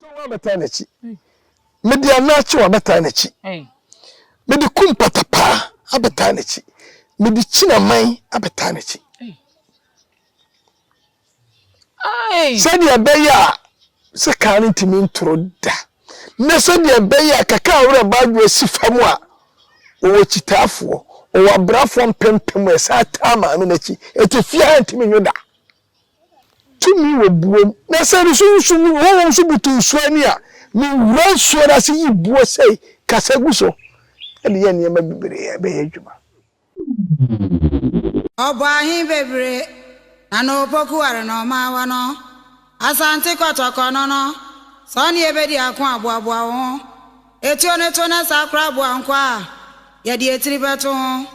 Mede towaa bɛtaa n'akyi. Mede anaakyewa bɛtaa n'akyi. Mede kum patapaa abɛtaa n'akyi. Mede kyinaman abɛtaa n'akyi. Sɛdeɛ ɛbɛyɛ a sɛ kaa no ntumi ntoro da na sɛdeɛ ɛbɛyɛ a kaka a werɛ baadwo asi fam a wɔwɔ kyitaafoɔ wɔwɔ abrafoɔ mpempem a ɛsan taa maame no akyi ɛte fie ha ntumi nwo da. Tumi wɔ buo mu. Na sɛ nsu nsu mu honhom nso butu nsuo ani a, mewura nsuo no ase yi buo sei, kasa gu so, de yɛ nneɛma bebree a ɛbɛyɛ adwuma. Ɔbɔ ahe bebree na na opokuware na ɔmaa wɔ no Asante Kɔtɔkɔ no no, sɛ ɔne yɛ bɛdi ako a boaboa wo ho, etuo no to na saa koraa boa nkoa a yɛde etiri bɛto ho.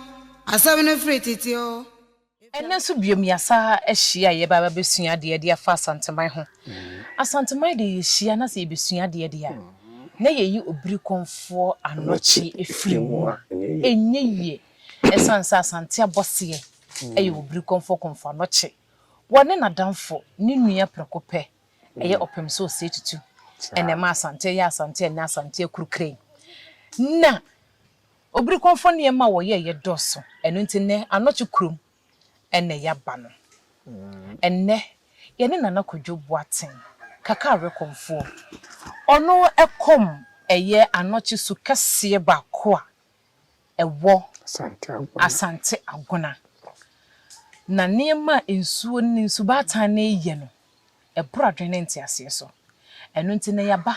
Asɛm no firi tete oo. Ɛnnɛ nso biom yɛasan ahyia a yɛreba abɛsua adeɛ de afa Asanteman ho. Asanteman deɛ yɛhyia na sɛ yɛbɛsua adeɛ deɛ a, na yɛyi Obirikɔnfoɔ anɔkye firi mu. Ɛnyɛ yie ɛsiane sɛ Asante abɔseɛ yɛ Obirikɔnfoɔ kɔmfo anɔkye. Wɔne n'adamfo ne nua Prekopɛ yɛ ɔpem sɛ ɔsɛe tutu. Ɛna ɛma Asante yɛ Asante a ɛnnɛ Asante akuru kran. Na. Obirikɔmfo nneɛma a wɔyɛeɛ dɔɔso, ɛno nti nnɛ Anɔkye kurom na yɛaba no. Ɛnnɛ yɛne Nana Kwadwo Boateng, Kaka Awerɛkɔmfoɔ, ɔno kɔm yɛ Anɔkye su kɛseɛ baako a ɛwɔ Asante Agona. Na nneɛma a nsuo ne nsubaatan no reyɛ no, ɛboro adwene ne nteaseɛ so. Ɛno nti nnɛ yɛaba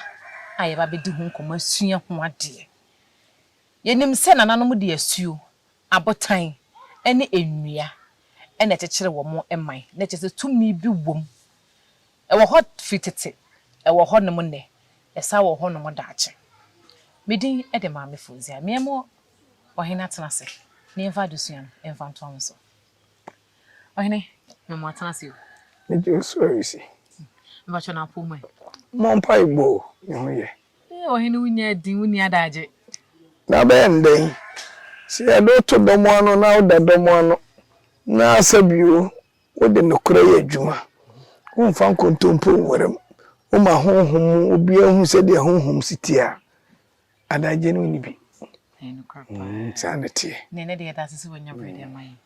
a yɛba abɛdi ho nkɔmmɔ asua ho adeɛ. Yenim sɛ nananom de asuo, abotan, ne nnua na ɛkyekyere wɔn man, na kyerɛ sɛ tumi bi wom. Ɛwɔ hɔ firi tete, ɛwɔ hɔnom nnɛ, ɛsan wɔ hɔnom daakye. Me din de Maame Fozia. Me mo ɔhene atena ase na yɛmfa adesua no mfa ntoa mo so. Ɔhene, me mo atena ase o. Mede osu resi. Mepakyɛ no apoo mu ɛ. Mmɔ mpaebɔ o, me ho yɛ. Ee, ɔhene wo nya din, wo nni adaagye. Na abɛyɛ no dɛn sɛ yɛde wo to dɔm ano na woda dɔm ano, na sɛ bio wode nokorɛ yɛ adwuma, womfa nkontompo nwera mu, woma honhom mu obiara hu sɛdeɛ honhom si teɛ a, adaagye no wonni bi. Ɛyɛ nokorɛ paa. Mm, saa na ɛteɛ. Na ɛnnɛ deɛ yɛda ase sɛ woanya berɛ de ama yɛn.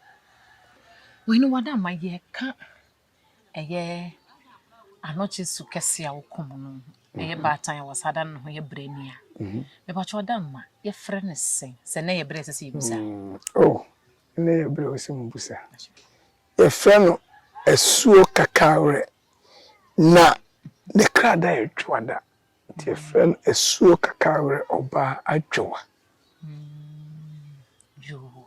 Ɔhene, wo adamayie, ɛka ɛyɛ anokye su kɛse a wɔkum no. Ɛyɛ baatan a wɔsa da no ho yɛ brɛnia. Mhm. Mepakyɛ ɔda mma yɛfrɛ no sɛn? Sɛ nnɛ yɛ berɛ ɛsɛ sɛ yɛbusa. Mm, oh, nnɛ yɛ berɛ ɛsɛ mubusa. Yɛfrɛ no asuo kakawerɛ na ne krada yɛ dwoada. Nti yɛfrɛ no asuo kakawerɛ ɔbaa adwowa. Mm, yoo.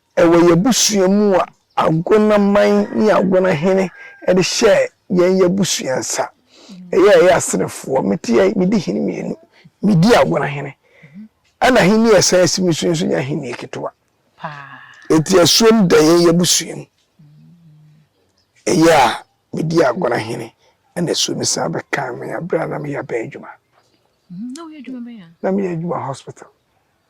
Wɔ yɛn abusua mu a, Agona man ne Agona hene de hyɛɛ yɛn yɛn abusua nsa. Ɛyɛ a yɛyɛ Aserefoɔ, me te a medi hene mmienu. Medi Agona hene. Ɛna ahennie a ɛsan si me so yi nso nyɛ ahennie ketewa. Enti asuom da yɛn yɛn abusua mu. Ɛyɛ a medi Agona hene ɛna asuom san bɛkaa me berɛ a na meyɛ abɛn adwuma. Na meyɛ adwuma hospital.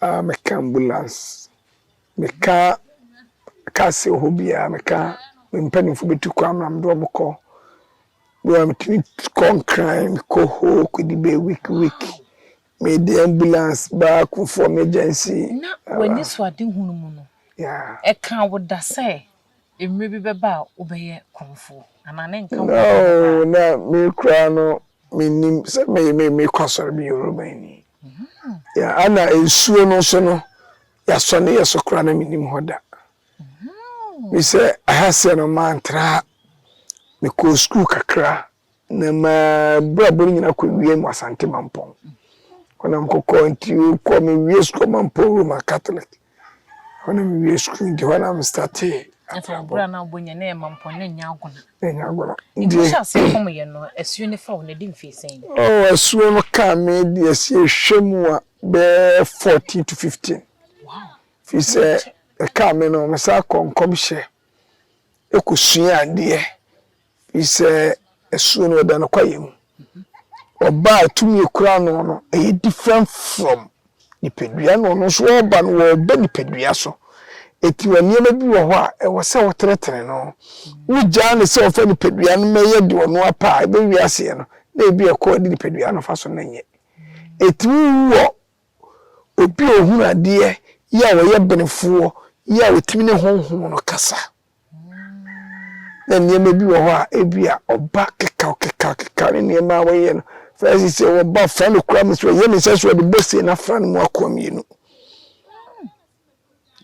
Ah meka ambulance meka car sɛ ɔhɔ biaa meka me mpanimfoɔ bɛtu kwan ma mede wɔn kɔ bi a metumi kɔ nkran mekɔ hoo kɔdi bɛyɛ week week mede ambulance baa Kufuor emergency. Na w'anisoadehunu mu no, ɛkaa wo da sɛ Mmere bi bɛba a wobɛyɛ korɔmfo, anaa ne nka wɔ hɔ bɛba a. Na me koraa no, mennim sɛ mekɔ asɔre, meyɛ Romani. Ana nsuo no nso no, yɛasɔ ne yɛ so koraa na mennim hɔ da. Mese, aha seɛ no, mantra ha. Mekɔɔ sukuu kakra, Na m'abrabɔ no nyinaa kɔwiee wɔ Asante Mampɔn hɔ na mekɔkɔɔ nti kɔɔ mewiee sukuu wɔ Mampɔn Roman Catholic hɔ na mewiee sukuu nti hɔ na mestartee abrabɔ. Ɛfɛ na wobɔ nyɛ na yɛ Mampɔn na ɛnyɛ Agona. Ɛnyɛ Agona. Nti hyɛ aseɛ kɔm yɛ no asuo no fa wo na ɛdi mfeɛ sɛn? Oh, asuo no kaa me de asie hwɛ mu a bɛɛ 14 to 15. Wow. Fi sɛ ɛkaa me no mesan kɔ nkɔmhyɛ ɛkɔsua adeɛ. Firi sɛ asuo no ɛda no kwaeɛ mu. Ɔba a tumi ɛkura ano no ɛyɛ different from nipadua na ɔno nso ɔba no ɔba nipadua so. Ɛti wɔ nneɛma bi wɔ hɔ a ɛwɔ sɛ wo tenetene no. Wo gyaa no sɛ ɔfa nipadua no mɛyɛ deɛ ɔno apɛ a ɛbɛ wie aseɛ no na ebi a ɛkɔ a ɛde nipadua no fa so no nyɛ. Ɛti wo wɔ obi a ɔhunu adeɛ yɛ a ɔyɛ benefoɔ yɛ a ɔtumi ne honhom no kasa. na nneɛma bi wɔ hɔ a ebi a ɔba kekaw kekaw kekaw ne nneɛma a wɔyɛ no fɛs sɛ wɔba fa no kura mu so ɛyɛ ne sɛ so ɔde bɔ se na fa no mu akoa mmienu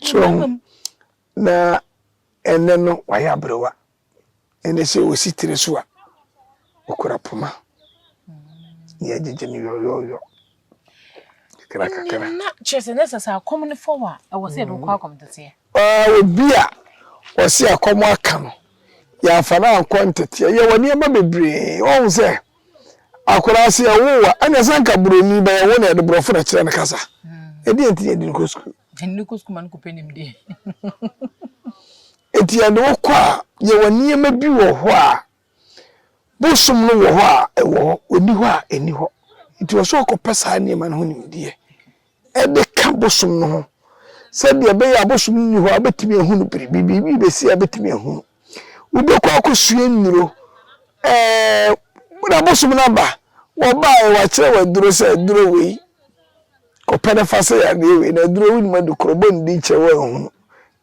so ɔho na ɛnɛ no wayɛ aberewa ɛnɛ sɛ ɔsi tiri so a ɔkura poma yɛgyegye no yɔyɔyɔ kakrakakra. na kyerɛ sɛ na sɛ sɛ akɔm no fɔw a ɛwɔ sɛ yɛde wokɔ akɔm teteɛ. Ɔɔ obi a ɔse akɔm aka no yɛamfa no ankɔ nteteɛ yɛwɔ nneɛma bebree ɔhu sɛ akwadaa sɛ yɛwoo a ɛna sɛ anka buroni bɛyɛ wo na yɛde borɔfo na kyerɛ no kasa ɛdeɛ nti yɛde no kɔ sukuu yɛde no kɔ sukuu ma no kɔpɛ nimdeɛ ɛti yɛde wokɔ a yɛwɔ nneɛma bi wɔ hɔ a Bosom no wɔ hɔ a, ɛwɔ hɔ, ɔnni hɔ a, ɛnni hɔ. Nti ɛwɔ sɛ ɔkɔpɛ saa nneɛma no ho nimdeɛ de ka bosom no ho sɛdeɛ ɛbɛyɛ a bosom no nni hɔ a, wobɛtumi ahunu biribi, biribi rebɛsi a wobɛtumi ahunu. Wobɛkɔ akɔsua nnuro, na bosom no aba, wɔbaeɛ wɔakyerɛ wɔ aduro sɛ aduro wei, kɔpɛ no fa sɛ yadeɛ wei, na aduro wonim adi korɔ, bɔ ne din kyerɛ wɔanhunu.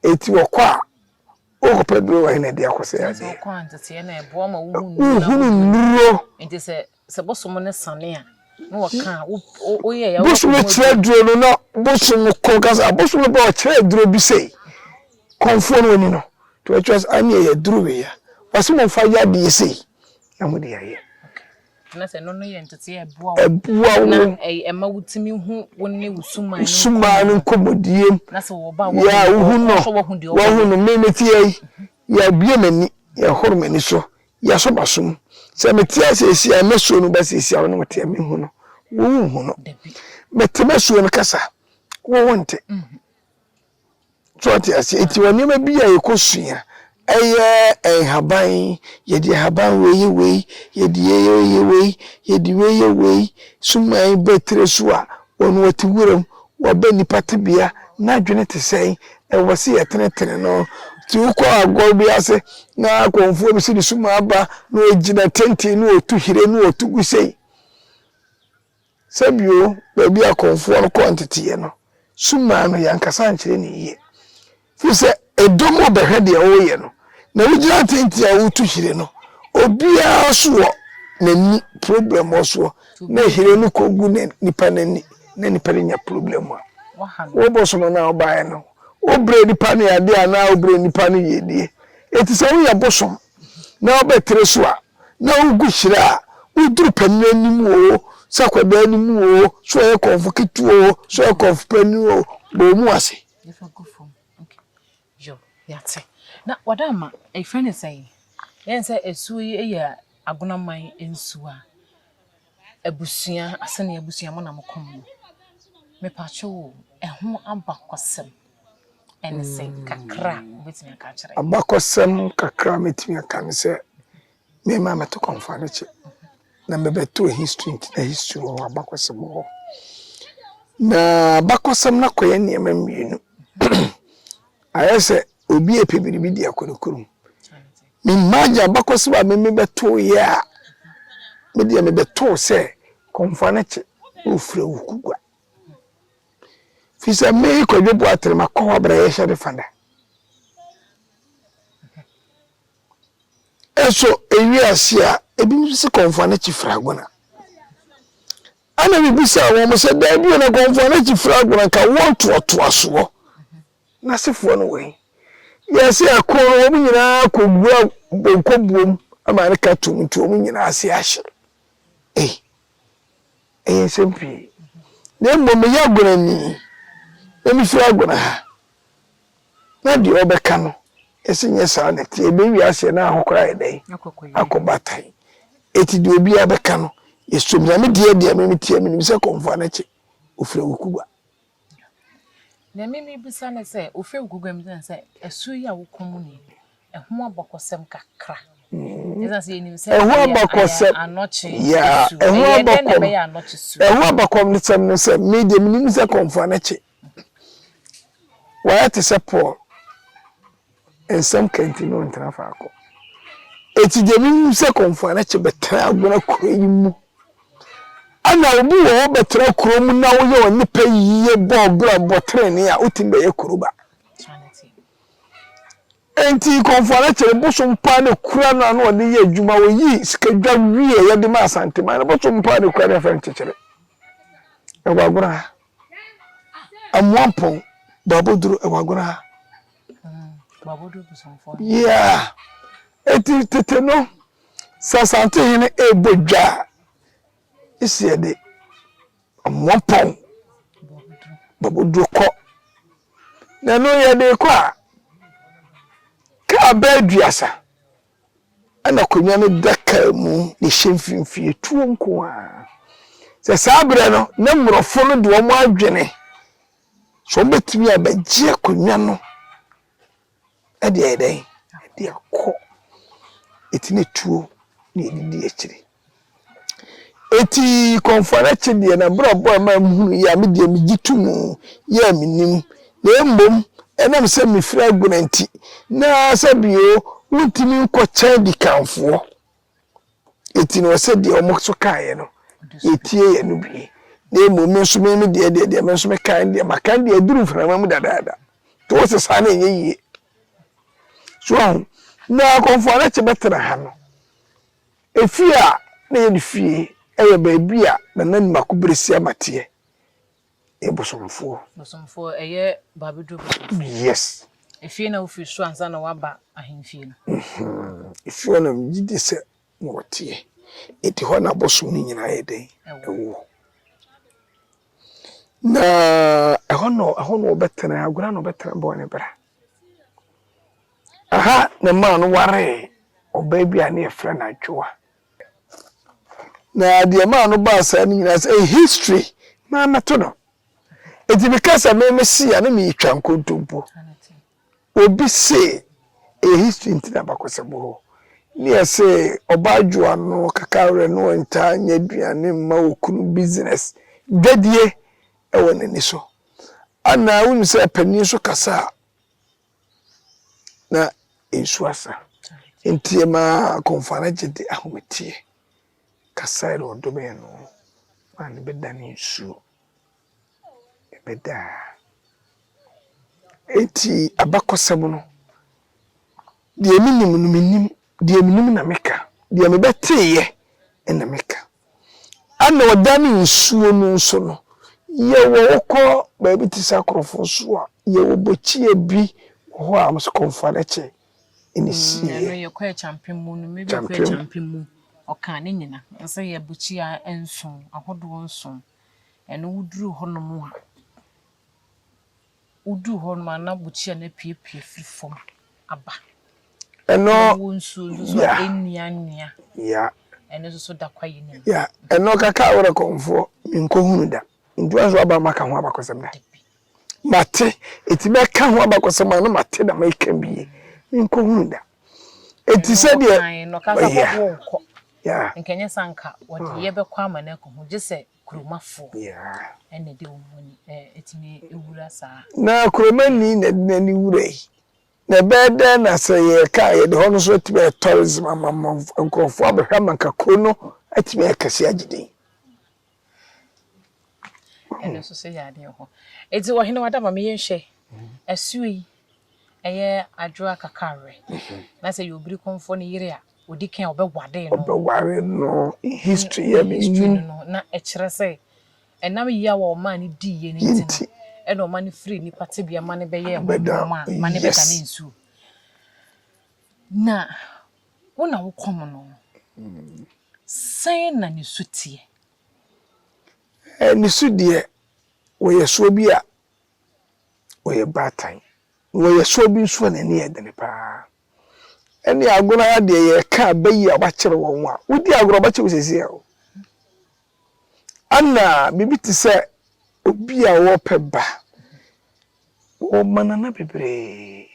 Ɛti wɔkɔ a. Wokɔpɛ nnuro wɔ he na ɛde akɔsɛe adeɛ? Sɛ wokɔ anteteɛ na ɛboa ma wohu nnuro na wohunu nnuro. Nti sɛ sɛ bosom no sane a na wɔka a wo woyɛɛ a wobɛkɔ mu aduro. Bosom kyerɛ aduro no na bosom kɔ ka sɛ abosom no ba ɔkyerɛ aduro bi sei kɔmfoɔ no ɔni no nti ɔkyerɛ sɛ aneɛ yɛ aduro wei a wɔse momfa yɛ adeɛ sei na mode ayɛ. Anaasɛ ɛno no yɛ ntetee a ɛboa wo. Ɛboa wo. Na ɛma wotumi hu wo ne wo suman no nkɔmmɔdie. Suman no nkɔmmɔdie. Na sɛ wɔba a wɔhunu. Yɛ wohu no. Wɔhwɛ wɔhu deɛ ɔbɛyɛ. Wɔhu no. Me mete ha yi. Yɛabue m'ani. Yɛhoro m'ani so. Yɛasɔ m'aso mu. Sɛ mete ha seesei a mɛsuo no ba seesei a wo ne me te a menhu no. Wo wonhu no. Mete mɛsuo no kasa. Wo wonte. So wate ase? Enti wɔ nneɛma bi a yɛkɔsua, ɛyɛ nhaban, yɛde nhaban wei yɛ wei, yɛde yei yɛ yɛ wei, yɛde wei yɛ wei, suman bɛ tire so a, wɔn wɔte wuram, wɔbɛ nnipa tebea, n'adwene te sɛn, ɛwɔ sɛ yɛtenetene no. Nti wokɔ agorɔ bi ase na akɔmfoɔ bi sɛ ne suman aba na ɔgyina tenten na ɔtu hire na ɔtu gu sei. Sɛ bio, baabi a akɔmfoɔ no kɔɔ nteteeɛ no, sum maa no, yɛankasa ankyerɛ no yie. Firi sɛ, ɛdɔm rebɛhwɛ deɛ woreyɛ no, na wogyina tenten a woretu hyire no, obiara nso wɔ n'ani problem wɔ soɔ, na hyire no kɔgu na nipa no ani, na nipa no nya problem a, wobosom no a wobaeɛ no, wobrɛ nipa no yadeɛ anaa wobrɛ nipa no yiedie. Enti sɛ woyɛ bosom na wobɛtere so a, na wogu hyira a, woduru panin anim o, sɛ akwadaa anim o, sɛ ɔyɛ kɔmfo ketewa o, sɛ ɔyɛ kɔmfo panin o, bɔ mu ase. Yɛfa gu fam. Okay. Yo, yɛate. Na wɔde ama, ɛfrɛ ne sɛn? Yɛn sɛ asuo yi yɛ agonaman nsuo a, Abusua asɛ ne abusua mo na mo kɔ mu no mepakyɛ o ɛho abakɔsɛm ɛne sɛ kakra a wobɛtumi aka akyerɛ. Abakɔsɛm kakra a mɛtumi aka ne sɛ me ma mɛto kɔnfanekye na mɛbɛto history nti na history wɔ hɔ abakɔsɛm wɔ hɔ na abakɔsɛm no akɔyɛ nneɛma mmienu ayɛ sɛ obi ɛpɛ biribi de akɔ ne kurom Me mmaa gye abakɔsɛm a meme bɛtoo yɛ a, me deɛ me bɛtoo sɛ kɔmfoa no kye na ɔfiri wo kugua. Firi sɛ me Kwadwo Boatene makɔ hɔ abrɛ yɛhyɛ ne fada. Ɛso ɛwie ase a, ebi nso sɛ kɔmfoa no kye firi agona. Ɛna me bisaa wɔn sɛ, daabi o na kɔmfoa no kye firi agona nka wɔn toatoasoɔ. N'asefoɔ no wɔ he? Yɛɛ sɛ ɛko no, wɔn nyinaa kɔwura bonkobuom ma ne ka tum nti wɔn nyinaa ase ahye. Ei, ɛyɛ nsɛm pii. Na mmom meyɛ agonani, na mefiri agona ha. Na deɛ ɔbɛka no, yɛse nyɛ saa na ɛteɛ. Ɛbɛn wiaseɛ na ahokora ayɛ dɛn? Akɔ batan. Eti deɛ obiara bɛka no, yɛsom. Nyame deɛ deɛ me meteɛ, menim sɛ kɔmfoa no kye, ofiri awukuba. Nea me mebisa ne sɛ ofew guguam no sɛ ɛso yi a wokɔ mu ni ɛho abakɔsɛm kakra mm-hmm. ɛsan sɛ yɛnim sɛ ɛho abakɔsɛm anɔkye su ɛho abakɔm ɛho abakɔm ne sɛm no sɛ me deɛ menim sɛ kɔmfoa no kye wɔyɛ te sɛ Paul Nsɛm ka nti na ɔntena faako. Enti deɛ menim sɛ Kɔmfoanakye bɛtena Agona kuro yi mu. Ɛna obi wɔ hɔ bɛtena kuro mu na woyɛ ɔne pɛ yie bɔ ɔbra bɔ trenee a wotumi bɛyɛ kuro ba. Enti Kɔmfoanakye no bosom paa na kura no ano ɔde yɛ adwuma oyi sika dwa wie yɛde ma Asanteman no bosom paa na kura no yɛfrɛ no kyekyere. Ɛwɔ Agona ha. Amoampɔn Boaboduro ɛwɔ Agona ha. Yeah. Eti tete no sɛ Asante hene ɛrebɔ dwa a esi ɛde Amoampɔn Boaboduro kɔ. Na ɛno yɛde kɔ a kaa bɛɛ aduasa. ɛna akonnwa no da kaa mu na ɛhyɛ mfimfini, tuo nko ara. Sɛ saa berɛ no, na mmorɔfo no de wɔn adwene sɛ wɔbɛtumi abɛgye akonnwa no de ayɛ dɛn? De akɔ. Ɛti na tuo na ɛdidi akyire. Enti kɔmfoa no akyi deɛ, n'abrabɔ a ɛma mehunu yi a, me deɛ megye tom yi a mennim, na mmom ɛnam sɛ mefiri Agona nti, na sɛ bio wontumi nkɔkyɛn dikanfoɔ, enti na ɔsɛ deɛ wɔn nso kaeɛ no, yɛtie yɛn no bie. Na mmom me nso me me deɛ deɛ deɛ me nso mekae no deɛ, maka no deɛ aduru mframa mu dadaada. Nti wo se saa na ɛnyɛ yie. So ahu, na kɔmfoa no akyi bɛtena ha no, Efie a na ɛyɛ ne fie yɛ baabi a na Nani Mako Beresiama teɛ. Yɛ bosomfoɔ. Bosomfoɔ, ɛyɛ Babeduro bosomfoɔ. Yes. Efie na wofiri so ansa na waba ahemfie no. Efie hɔ na megye di sɛ na wɔteɛ. Enti hɔ na abosom no nyinaa yɛ dɛn? Ɛwɔ. Na ɛhɔ na ɛhɔ na wɔbɛtena, agorɔ na wɔbɛtena bɔɔ ne bra. Aha na maa no waree ɔbaa bi a ne yɛfrɛ no Adwoa. Na deɛ maa no baa saa no nyinaa sɛ eh, history maa mɛto no. Enti meka sɛ me me se a ne meretwa nkontompo. Obi se eh, history nti na bakɔsɛbo hɔ. Ne yɛ se ɔbaa Adwoa no kaka werɛ no ɔntaa nyɛ aduane mma okunu business dwadie ɛwɔ n'ani so. Ana wonim sɛ panin nso kasa a, na nsu asa. Nti ɛmaa Akɔmfo no gye de ahometeɛ kasae na ɔdomee no maa no bɛdane nsuo. Ɛbɛdaa. Enti abakɔsɛm no, deɛ menim no menim, deɛ menim na meka, deɛ mebɛteeɛ na meka. Ɛna ɔda ne nsuo no nso no, yɛwɔ wokɔ baabi te sɛ akorɔfo nso a, yɛwɔ bɔkyeɛ bi wɔ hɔ a wɔn sɛ kɔmfa no kyɛ ɛna ɛsi yɛ. Ɛno yɛkɔ ɛkyampem mu no, maybe kɔ ɛkyampem mu, ɔkaa ne nyina sɛ yɛ bɔkyeɛ nson, ahodoɔ nson, ɛno woduru hɔ nom a. Woduu hɔ no ma na bukyia no apuepue firi fam aba. Ɛno. Na wɔ nsuo nso so a ɛnnuannua. Ya. Ɛno nso so da kwaeɛ no mu. Ya. Ɛno kaka a wodɛ kɔmfoɔ menkɔhunu da. Nti woanso aba maka ho abakɔsɛm da. Dabi. Mate. Ɛti bɛka ho abakɔsɛm a na mate da mɛka bi ye. Menkɔhunu da. Ɛti sɛ deɛ. Ɛno ɔkae no ɔkaa sɛ hɔ wonkɔ. Ya. Nka nyɛ sɛ anka wɔde yɛ bɛkɔ ama no akɔhu gye sɛ. kuromafo na ɛde wɔn ani tumi wura saa. Na kuromani na ɛde n'ani wura yi. Na ɛbɛyɛ dɛn na sɛ yɛka a yɛde hɔ no nso atumi ayɛ tourism ama nkurɔfo abɛhwɛ ama nka kuro no atumi ayɛ kɛse agye din. Ɛno nso so yɛ adeɛ hɔ. Eti ɔhene wadama meyɛ nhwɛ. Asuo yi ɛyɛ adwoa kakarɛ na sɛ yɛ obiri konfoɔ ne yere a odi kan a ɔbɛware no ɔbɛware no history yɛ ne history no no na ɛkyerɛ sɛ ɛnam yaw a ɔmaa no dii yɛ no nti no ɛna ɔma no firi nipa tebea ma no bɛyɛ ɛho adwuma a ma no bɛda ne nsuo na wo na wo kɔm no sɛn na ne su teɛ. ne su deɛ wɔyɛ soɔ bi a ɔyɛ baatan. Na ɔyɛ soɔ bi nso a n'ani yɛ dene pa ara. Ɛnneɛ agorɔ ha deɛ yɛreka aba yi a wɔakyere wɔn a, wodi agorɔ a wɔbɛkye wo seesei o. Ana biribi te sɛ obi a ɔrepɛ ba, wɔma nana bebree.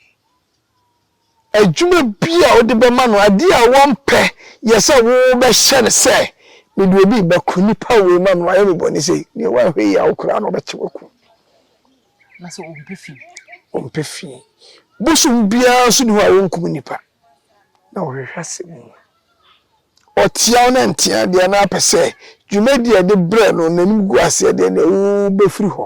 adwuma bi a wode bɛma no, adeɛ a wɔmpɛ yɛ sɛ wobɛhyɛ no sɛ, mede obi rebɛko nipa wei ma me, wayɛ me bɔne sei, deɛ woanhwɛ yie a wo koraa na ɔbɛkyɛ waku. Na sɛ ɔmpɛ fi. Ɔmpɛ fi. Bosom biara nso ni hɔ a wɔnkum nipa na wɔhwehwɛ asɛm mu. Ɔtea wo na ntea deɛ na apɛ sɛ dwumadi a ɛde brɛ no n'anim gu aseɛ deɛ na ɛwɔ bɛfiri hɔ.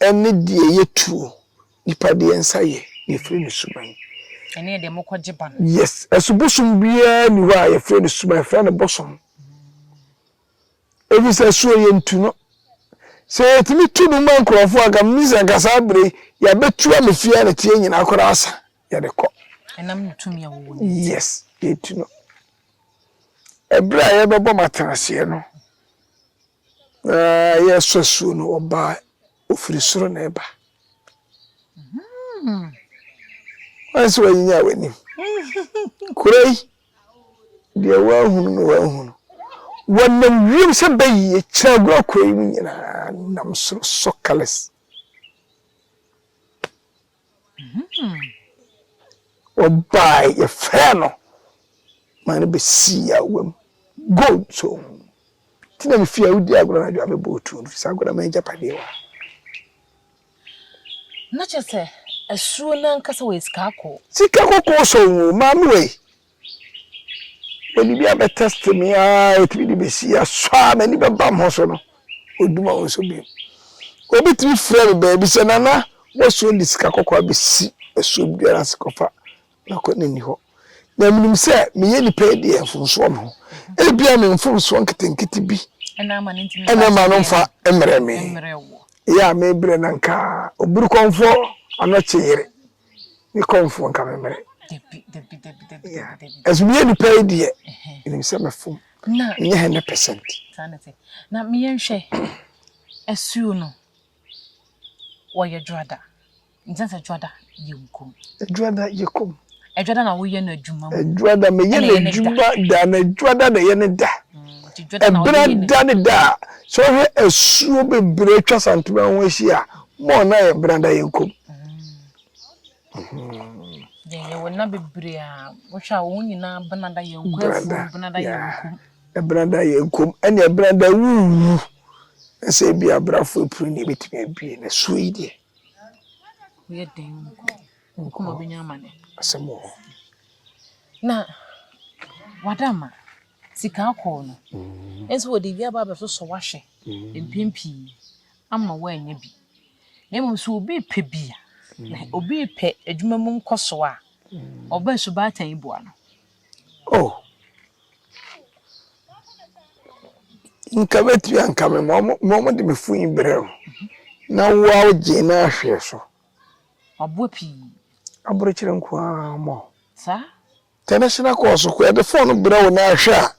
Ɛne deɛ yɛ tuo. Nipa deɛ nsa yɛ, deɛ yɛfrɛ no suban. Ɛne deɛ mokɔ gye ba no. Yes, ɛso bosom biara ni hɔ a yɛfrɛ no suban, yɛfrɛ no bosom. Ɛfiri sɛ ɛsoɔ yɛ ntu no. Sɛ yɛtumi tu no ma nkorɔfoɔ anka menim sɛ anka saa berɛ yi yɛabɛtu ame fie a ne teɛ nyinaa koraa asa, yɛde kɔ. Ɛnam ne tumi a wɔwɔ no nti. Yes, yɛtu no. Ɛberɛ a yɛbɛbɔ m'atenaseɛ no. Na yɛresu asuo no, ɔbaa, ɔfiri soro na ɛba. Wan sɛ wanyinya w'anim. Kuro yi, deɛ wanhunu no wanhunu. Wɔnam wiem sɛ bɛyie, kyerɛagorɔ kuro yi mu nyinaa nam soro, sockless. Ɔbae yɛfrɛɛ no ma no besii awa mu goal too nti na mefii awodi agorɔ anadwo a mebɔɔ tuo no fisɛ agorɔ m'agyapadeɛ wɔ hɔ. Na kyerɛ sɛ asuo no ankasa wɔyɛ sika kɔkɔɔ. Sika kɔkɔɔ sɔn o maame wei. Mede biribi abɛ test me ara ɛtumi de bɛsi asɔ a m'ani bɛbam ho so no ɔduma wo nso bio obi tumi frɛ me baabi sɛ nana wɔsuo de sika kɔkɔɔ abɛsi asuo biara ase kɔfa na kɔ na ni hɔ na menim sɛ meyɛ nipa yi deɛ mfomsoɔ me ho ebia me mfomsoɔ nketenkete bi ɛna ma no mfa mmerɛ me yɛ a mebrɛ na nka oburukɔmfoɔ anɔkye yere ne kɔmfoɔ nka me mmerɛ ɛso meyɛ nipa yi deɛ ɛnim sɛ mɛfom menyɛ hɛ ne percent na meyɛ nhwɛ asuo no wɔyɛ dwoada nkyɛn sɛ dwoada yɛ nkom dwoada yɛ kom adwada na woyɛ no adwuma mu adwada meyɛ no adwuma da na adwada na ɛyɛ no da ɛberɛ da ne da a sɛ wohwɛ asuo bebree atwa santoma ho ahyia a More na yɛ bena da yɛn kom. Yɛn yɛ wɔ na bebree a wohwɛ a wɔn nyinaa bena da yɛn kɔ afuo bena da yɛn kom. Ɛbena da yɛn kom ɛne ɛbena da wuwu na sɛ ebi abrafo apuni na ebetumi abue na suo yi deɛ. Yɛ den nko nko ma benya amane. Asɛm wɔ hɔ. Na wadama sika akɔɔ no. Ɛnso wɔde wia ba abɛsosɔ wahwɛ mpempii. ama woanya bi, na mmom sɛ obi repɛ bi a, na obi repɛ adwuma mu nkɔso a, ɔba subaatan yi boa no. Oh, nka bɛtumi anka me ma wɔn de me fun brɛ wo, na wo a wogye no ahwɛ so. Waboa pii. Aborokyerɛ nko ara mmɔ. Saa. Tɛnɛhyena kɔɔ so koraa de fon brɛ wo na ahwɛ a,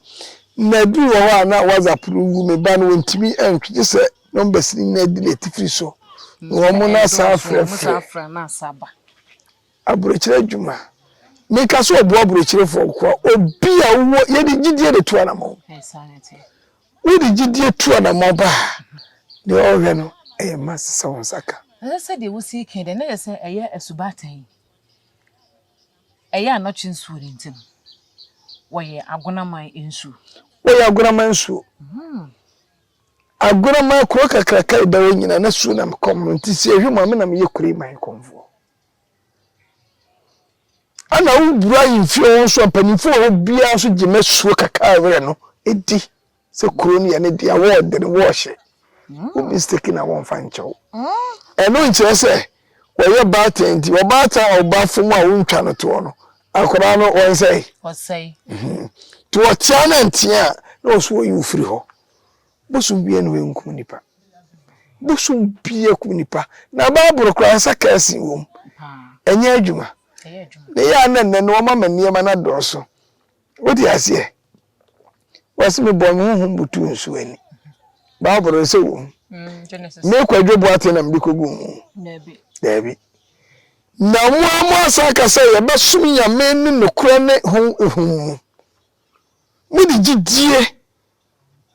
na ebi wɔ hɔ a na WhatsApp no ngu, me ba no wɔntumi ntwe gye sɛ numbers no nyinaa di ne atifiri so na wɔn na asan afrɛfrɛ. Aburokyire adwuma, meka sɛ ɔboa aburokyirefoɔ nko a, obi a wowɔ, yɛde gyidie de tu anamɔn. Wode gyidie tu anamɔn ba a, deɛ ɔrehwɛ no ɛyɛ ma sesa wo nsa ka. Ɛsɛ sɛ deɛ wosi kan deɛ na yɛ sɛ ɛyɛ asubatan. Ɛyɛ a na kye nsuo no nti no, wɔyɛ agonaman nsuo. Wɔyɛ agonaman nsuo. Agonaman kuro kakraka ɛda hɔ nyinaa na suo nam kɔm no nti sɛ ɛhwe mu a me na meyɛ kuro yi man kɔmfoɔ. Ɛna wobura ahemfie hɔ nso a mpanimfoɔ wɔ hɔ biara nso gye ma suo kakra a ɛwerɛ no di. sɛ kuro no yɛ ne dea wɔɔde no wɔɔhyɛ wo mistake na wɔmfa nkyɛ wo ɛno nkyerɛ sɛ wɔyɛ baatan nti ɔbaatan a ɔba fam a wontwa no toɔ no akwadaa no wɔnsɛe ɔsɛe mhm. nti wɔkyea no ntea a na ɔso wɔyi wo firi hɔ bosom bia na wɔnkum nipa bosom bia kum nipa na baaboro koraa nsa kɛse wom ɛnyɛ adwuma ne yɛ a na nnɛ no wɔma ma nneɛma no adɔɔso Wote aseɛ? Wɔse mebɔɔ me honhom butuu nsuo ani. Bible no sɛ wom. Mm, me Kwadwo Boateng na mede kɔgu mu. Daabi. Na mo a mo asa aka sɛ yɛbɛsom Nyame ne nokorɛ ne honhom mu. Mode gyidie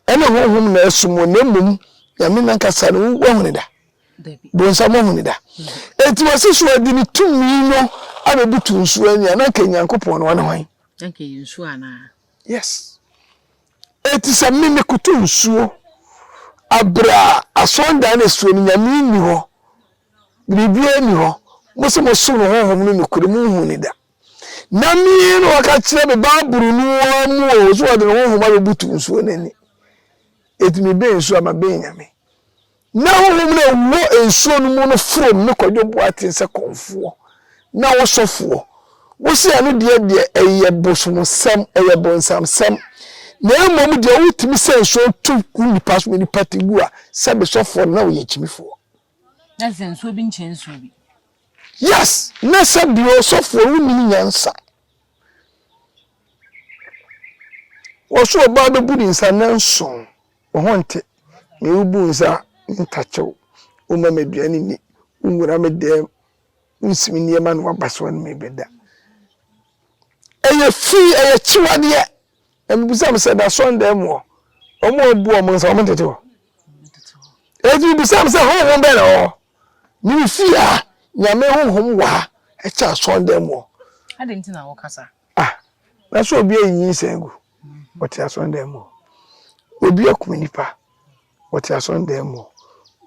Ɛne honhom na ɛso mo na mmom Nyame nankasa no wahu no da. Bonsam ahu no da. Enti wɔse so ɔde ne tumi no abɛbutu nsuo ani a, na anka Nyankopɔn no ɔne hwan? Anka ɛyɛ nsuo anaa? Yes. Enti sɛ me mekoto nsuo abrɛ a asɔndan no asuo no Nyame nni hɔ, biribiara nni hɔ, mose mosom no honhom no nokorɛ monhu no da. Na me, na wɔka kyerɛ me Bible no ara mu o, so wɔde ne honhom abɛbutu nsuo no ani. Enti mebɛn nsuo a mabɛn Nyame. Na honhom no a ɛwɔ nsuo no mu no forom me Kwadwo Boateng sɛ kɔmfoɔ na wo sɔfoɔ. Wose ɛno deɛ deɛ ɛyɛ bosomsɛm, ɛyɛ bonsamsɛm. Na mmom deɛ wotumi sɛ nsuo to gu nnipa so, nnipa te gu a, sɛ me sɔfoɔ no na woyɛ gyimifoɔ. Na sɛ nsuo bi nkyɛn nsuo bi. Yes, na sɛ bia ɔsɔfoɔ no nim nyansa. Wɔso ɔbaa bɛbu ne nsa na nson, wo ho nte, me wobu nsa me ntakyew, woma me aduane ni, wo nwura me dɛm, wo nsi me nneɛma na waba so anome bɛda. Ɛyɛ fii, ɛyɛ kyewadeɛ. Na mibisa mo sɛ, na asɔrdan mu hɔ, wɔn a wɔabu wɔn nsa, wɔntete hɔ? Enti mibisa mo sɛ, honhom bɛn na ɛwɔ hɔ? Mifi ha, Nyame honhom wɔ ha kyɛn asɔrdan mu hɔ. Adɛn nti na woka saa? Ah, nanso obi ayi nyinsɛn agu, ɔte asɔrdan mu hɔ. Obi akum nnipa, Wɔte asɔredan mu hɔ.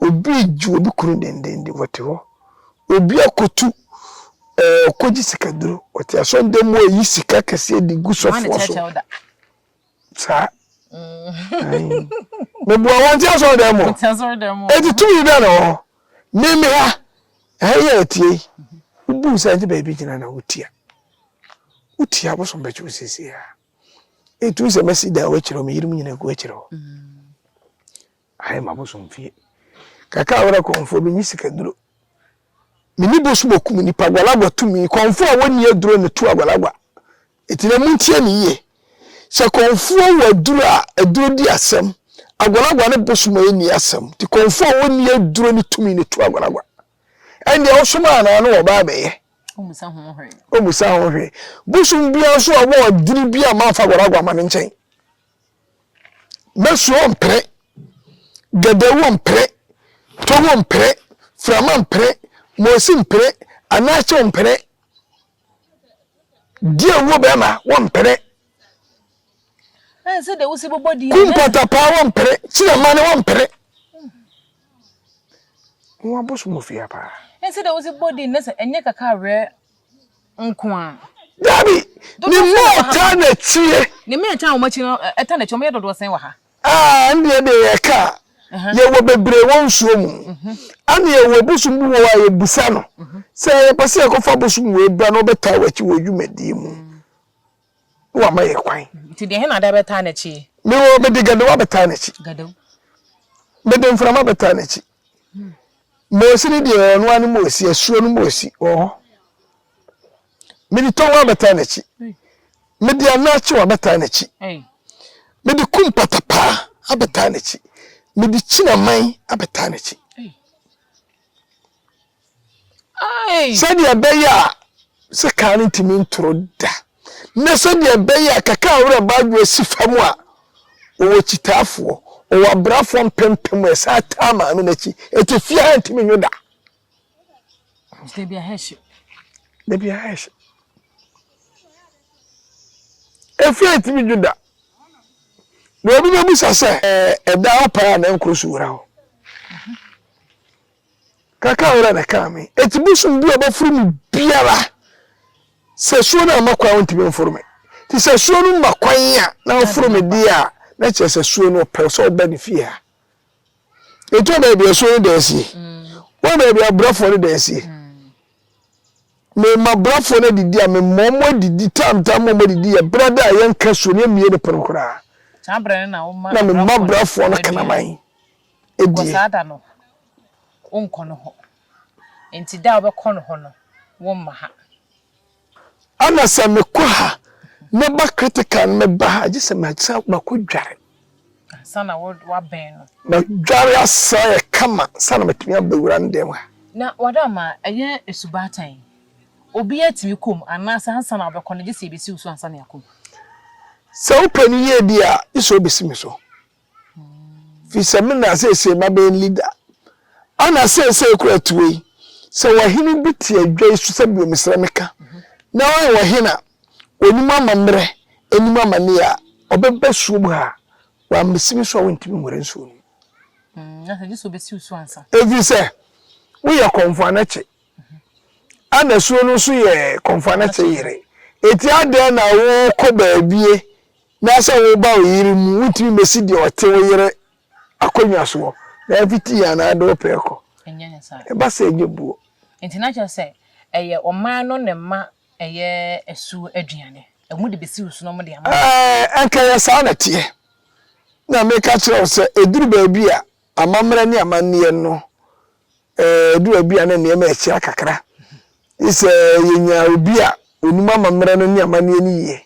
Obi regye obi kunu dendenden, wɔte hɔ. Obi akotu, ɛɛ, ɔkɔgye sikaduro. Wɔte asɔredan mu reyi sika kɛseɛ de gu sɔfoɔ so. Saa. Mebua wɔnte asɔredan mu. Eti tumi bɛn na wɔ hɔ? Meme ha. Ɛha yi a ɛteɛ yi, wobu nsa nti baabi gyina na wotia. Wotia abosom bɛkye wo seesei ara. Etu sɛ mɛsi dan w'akyiri hɔ, me yerenom nyinaa gu akyiri hɔ. Ayɛ ma bosom fie. Kaka awura kɔnfoɔ bi nye sika duro. Me ni bosom okum nipa gwalagwa tumi kɔnfoɔ a wɔnni aduro na tu agwalagwa. Eti na muntie ne yie. Sɛ kɔnfoɔ wɔ aduro a aduro di asɛm. Agwalagwa ne bosom a enni asɛm. Ti kɔnfoɔ a wɔnni aduro ne tumi na tu agwalagwa. Ɛndeɛ wosom anaa ne wɔba abɛyɛ? Ommisa ho hwee. Ommisa ho hwee. Bosom biara nso a wɔwɔ dini bi a mamfa Guaraguá ma ne nkyɛn. Mɛsuo ɔmpere, Gadawu ɔmpere, Togo ɔmpere, Frama mpere, Mosi mpere, Anache ɔmpere. Di awuo bɛrima wɔmpere. Sɛ deɛ wosi bobɔ di kumpata paa wɔmpere kyerɛ ma ne wɔmpere. Wɔn abosom ofia paa. Sɛ deɛ wosi bobɔ di nnɛ sɛ ɛnyɛ kaka awerɛ nko a. Dabi ne mu ɔtaa na tie. Ne mu ɛtaa wɔn akyi no ɛta na akyi wɔn yɛ dodoɔ sɛn wɔ ha. Ah ɛndeɛ deɛ yɛka a yɛwɔ bebree wɔ nsuo mu ɛna yɛwɔ bosom bi wɔ hɔ a yɛbusa no sɛ yɛpɛ sɛ yɛkɔfa bosom wei bra na ɔbɛtaa w'akyi wɔ dwumadie mu na wama yɛ kwan. Nti deɛ hena da bɛtaa n'akyi? Mewɔ mede gadewa bɛtaa n'akyi. Gadew. Mede mframa bɛtaa n'akyi. Moosi ne deɛ ɔno ara ne moosi asuo no moosi wɔ hɔ Mede tɔn abɛtaa n'akyi. Mede anaakyew abɛtaa n'akyi. Mede kum patapaa abɛtaa n'akyi. Mede kyinaman abɛtaa n'akyi. Sɛdeɛ ɛbɛyɛ a sɛ kaa no ntumi ntoro da na sɛdeɛ ɛbɛyɛ a kaka a werɛ baadwo asi fam a wɔwɔ kyitaafoɔ wɔwɔ abrafoɔ mpempem a ɛsan taa maame no akyi ɛte fie ha ntumi nwo da Mr. Biahesh. The Biahesh. Efi a etimi dwo da. Na obi bɛ busa sɛ. Ɛda hɔ paa na nkoro so wura hɔ. Kaka wura na kaa me. Eti bosom bi a ɔbɛforo me biara sɛ suo no amma kwan ntumi mforo me. Ti sɛ suo no ma kwan a na ɔforo me deɛ a na kyerɛ sɛ suo no ɔpɛ sɛ ɔba ne fie ha. Yɛtɔ baabi a asuo no da asie. Woyɛ baabi a brɛfoɔ no da asie. Mema brɛfoɔ no adidi a mema wɔn adidi tam tam ma wɔn adidi yɛ berɛ da a yɛnka asuo no yɛmmie ne pono koraa. Na mema brɛfoɔ no kraman adie. Saa da no, wonkɔ no hɔ. Enti da a wobɛkɔ no hɔ no, womma ha. Ana sɛ me kɔ ha na ba critical no me ba ha gye sɛ ma san ma kɔ dware. Ansa na wo wa bɛn no. Ma dware asa yɛ kama sa na metumi aba wura no dɛm ha. Na wada ma ɛyɛ esubaatan obi atumi kɔ mu anaa sɛ ansa na wo bɛkɔ no gye sɛ yɛ bɛsi wo so ansa na yɛ akɔ mu. Sɛ wo pɛ no yie deɛ a gye sɛ wo bɛsi me so. fi sɛ me na seesei mabɛyɛ ne leader ana seesei kora atuo yi sɛ wɔhene bi te adwa yi so sɛ bio mesrɛ meka na ɔyɛ wɔhene a ɔnim amammerɛ anim amanneɛ a ɔbɛba suo mu ha wammɛsi me so a wontumi nwura nsuo no ɛfiri mm, sɛ woyɛ kɔmfo anakye ana suo no nso yɛ kɔmfo anakye yere ɛti adɛn na wokɔ baabie Na sɛ woba wo yere mu, wotumi besi deɛ ɔte wo yere akonnwa soɔ, na afiti yɛ anaa de wo pɛɛ kɔ? Ɛnyɛ ne saa. Ɛba saa ɛnyɛ buo. Nti na kyerɛ sɛ ɛyɛ ɔman no ne mma ɛyɛ asuo aduane. Ɛmu de besi wo so na wɔn de ama wo. Ɛɛ, anka ɛyɛ saa na ɛteɛ. Na meka kyerɛ wo sɛ ɛduru baabi a amammerɛ ne amanneɛ no, ɛɛ, ɛduru baabi a na nneɛma rekyea kakra. Gye sɛ yɛnya obi a ɔnim amammerɛ no ne amanneɛ no yie.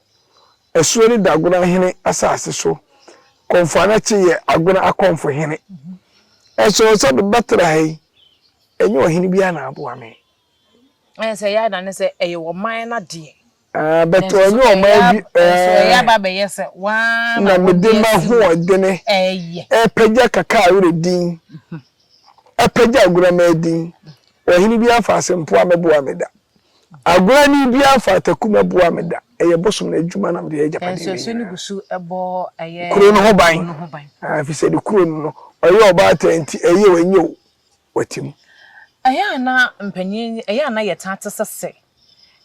Ɛsoɛ ne Dagona hene asase so. Kɔmfoanakye yɛ Agona akɔmfo hene. Ɛsɔɔ sɛ bɛbɛtra ha yi, ɛnyɛ ɔhene biara na aboa me. Ɛyɛ sɛ ɛyɛ adane sɛ ɛyɛ ɔman no adeɛ. Ah, but ɔnyɛ ɔman bi. Nanso ɛyɛ aba abɛyɛ sɛ wɔn na wɔde m'ahoɔdene ɛrepagya Kakaawere din, ɛrepagya Agona Mmaa din. Ɔhene biara mfa asɛmpoa mmɛboa me da. Agorani biara fa ataku mmɛboa me da. Ɛyɛ bosom no adwuma na mede yɛ agyapadeɛ no nyinaa. Kuro no ho ban, ɛfiri sɛ ne kuro no no, ɔyɛ ɔbaatan enti, ɛyɛ o, ɛnyɛ o, wate mu. Ɛyɛ a na mpanin, ɛyɛ a na yɛtaa te sɛ sɛ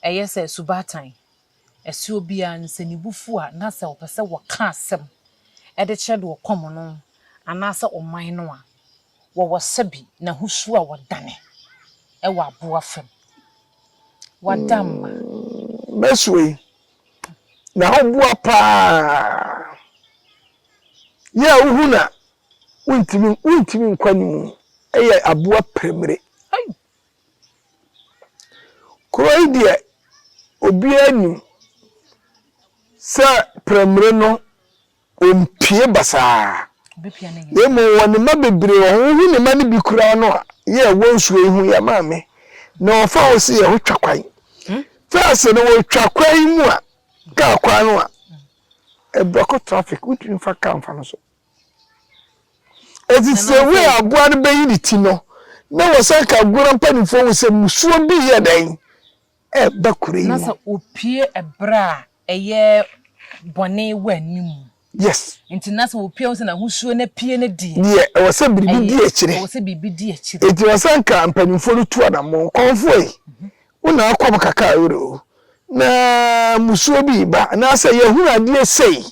ɛyɛ sɛ asubaatan, ɛsɛ obiara no sɛ ne bo fu a na sɛ ɔpɛ sɛ ɔka asɛm de kyerɛ deɛ ɔkɔm no anaasɛ ɔman no a, Wɔwɔ sɛbi na husu a wɔdane wɔ aboa fam. W'adamma. Mɛsoe, na woboa paa. Yɛ a wohu na wontumi wontumi nkɔ anim yɛ aboa premire. Ai! Kuro yi deɛ obiara nim sɛ premire no. Ompue basaa, na mmom ɔwɔ ne mma bebree, ɔho wohu ne mma no bi koraa no a yɛ a wɔnsuro yi ho yɛ maame, na ɔfa ho se yɛ ho twa kwan. Fɛɛse no, wɔtwa kwan yi mu a, kaa kwan no a, ɛbrɔko traffic, wontumi mfa kaa mfa no so. Ɛti se wei aboa no bɛyi ne ti no, na wɔsan ka agona mpanifoɔ ho sɛ musuo bi yɛ dɛn? ɛreba kuro yi mu. Na sɛ opue ɛberɛ a ɛyɛ bɔne wɔ anim mu. Yes. Nti na sɛ wopue ho sɛ n'ahosuo no apue no deɛ. Deɛ ɛwɔ sɛ biribi di akyire. Ɛwɔ sɛ biribi di akyire. Nti ɛwɔ sɛ nka mpanimfoɔ no tu anammɔn. Kɔmfoɔ yi, wo na akɔm kakaa werɛ o. Na mmusuo bi reba anaasɛ yɛahunu adeɛ sei.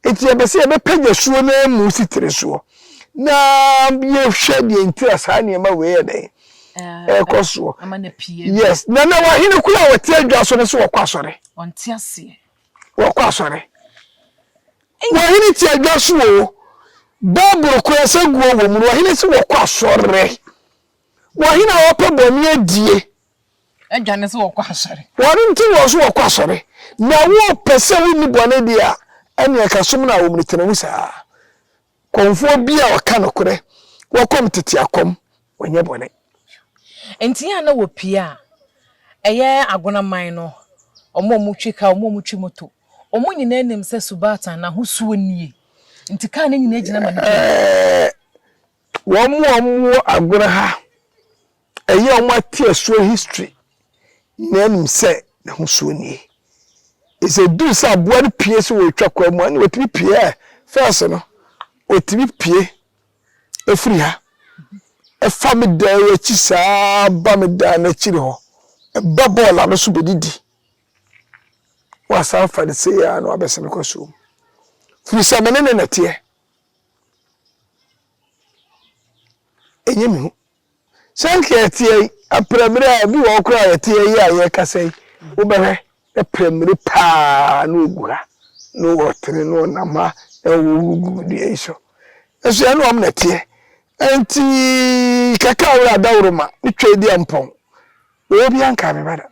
Nti yɛpɛ sɛ yɛbɛpagya suo no amu si tiri soɔ na yɛhwɛ deɛ nti a saa nneɛma wei yɛ dɛn. ɛkɔ soɔ yes na na wahene kura a wɔte adwa so no so wɔkɔ asɔre wɔkɔ asɔre wahene te adwa so o bible kura sɛ guo wɔ mu no wahene sɛ wɔkɔ asɔre wahene a wɔpɛ bɔne adie adwa ne sɛ wɔkɔ asɔre wɔne nti wɔ so wɔkɔ asɔre na wɔpɛ sɛ wonni bɔne deɛ a ɛne ɛka som no a wɔmene tena mu saa Kɔmfoɔ bi a ɔka nokorɛ. Wɔkɔm tete akɔm, wɔnyɛ bɔne. Enti yɛn a na wɔpie a, ɛyɛ agonaman no, wɔn a wɔtwi kaa, wɔn a wɔtwi moto, wɔn nyinaa nim sɛ Subatan n'ahosuo nie, enti kaa no nyinaa gyina ma nnipa bi. Wɔn a wɔwɔ agorɔ ha. Ɛyɛ a wɔate ɛsoɔ history nyinaa anim sɛ n'ahosuo nie. Enti ɛduru sɛ aboa no pue sɛ ɔretwa kwan mu a, ɛnna ɔtumi pue ɛ. First no, ɔtumi pue firi ha, ɛfa me dan yi akyi saa ba me dan no akyiri hɔ, ɛba bɔɔl ano so bɛdidi. Wasan fa no sei ara na wabɛsɛ me kɔ suom. Firi sɛ me ne no na ɛteɛ. Ɛnyɛ me hu Sɛnea ɛteɛ yi, aperamire a ebi wɔ hɔ koraa a ɛte eyi a yɛrekasa yi, wobɛhwɛ na peramire paa na ogu ha, na ɔtene na ɔnam ha na ɔwuwu gu dua yi so. Nanso ɛnyɛ wɔn na ɛteɛ. Enti kɛkɛ a wura adaworoma ne Tweedia mpɔn, wɔ obiara nkaa me ba da.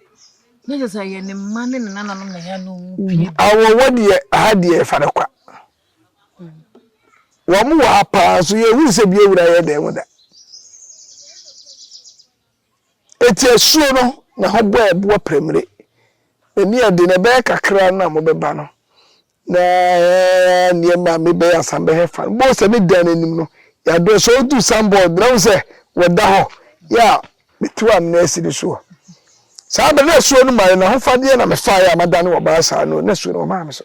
Na kyerɛ sɛ ɛyɛ ne mma ne ne nananom na ɛyɛ a na wɔpue ba. Awɔwɔ deɛ, ha deɛ yɛfa no kwa. Wɔn wɔ ha paa nso yɛhunu sɛ bi awura yɛ dan mu da. Eti asuo no na ho bɔ ɛboɔ prɛmire. N'ani ɛde na ɛbɛyɛ kakra na mobɛba no na nneɛma me bɛyɛ asan bɛhɛ fa. Bɔɔ sɛ ne dan n'anim no yɛadɔ sɛ ɔdu sanbɔɔd na wo sɛ wɔda hɔ yɛ a metew amena asi ne soɔ. Saa bɛ na asuo no mare na ho fadeɛ na mefaeɛ a madane wɔ baa saa no na asuo no wɔmaa me so.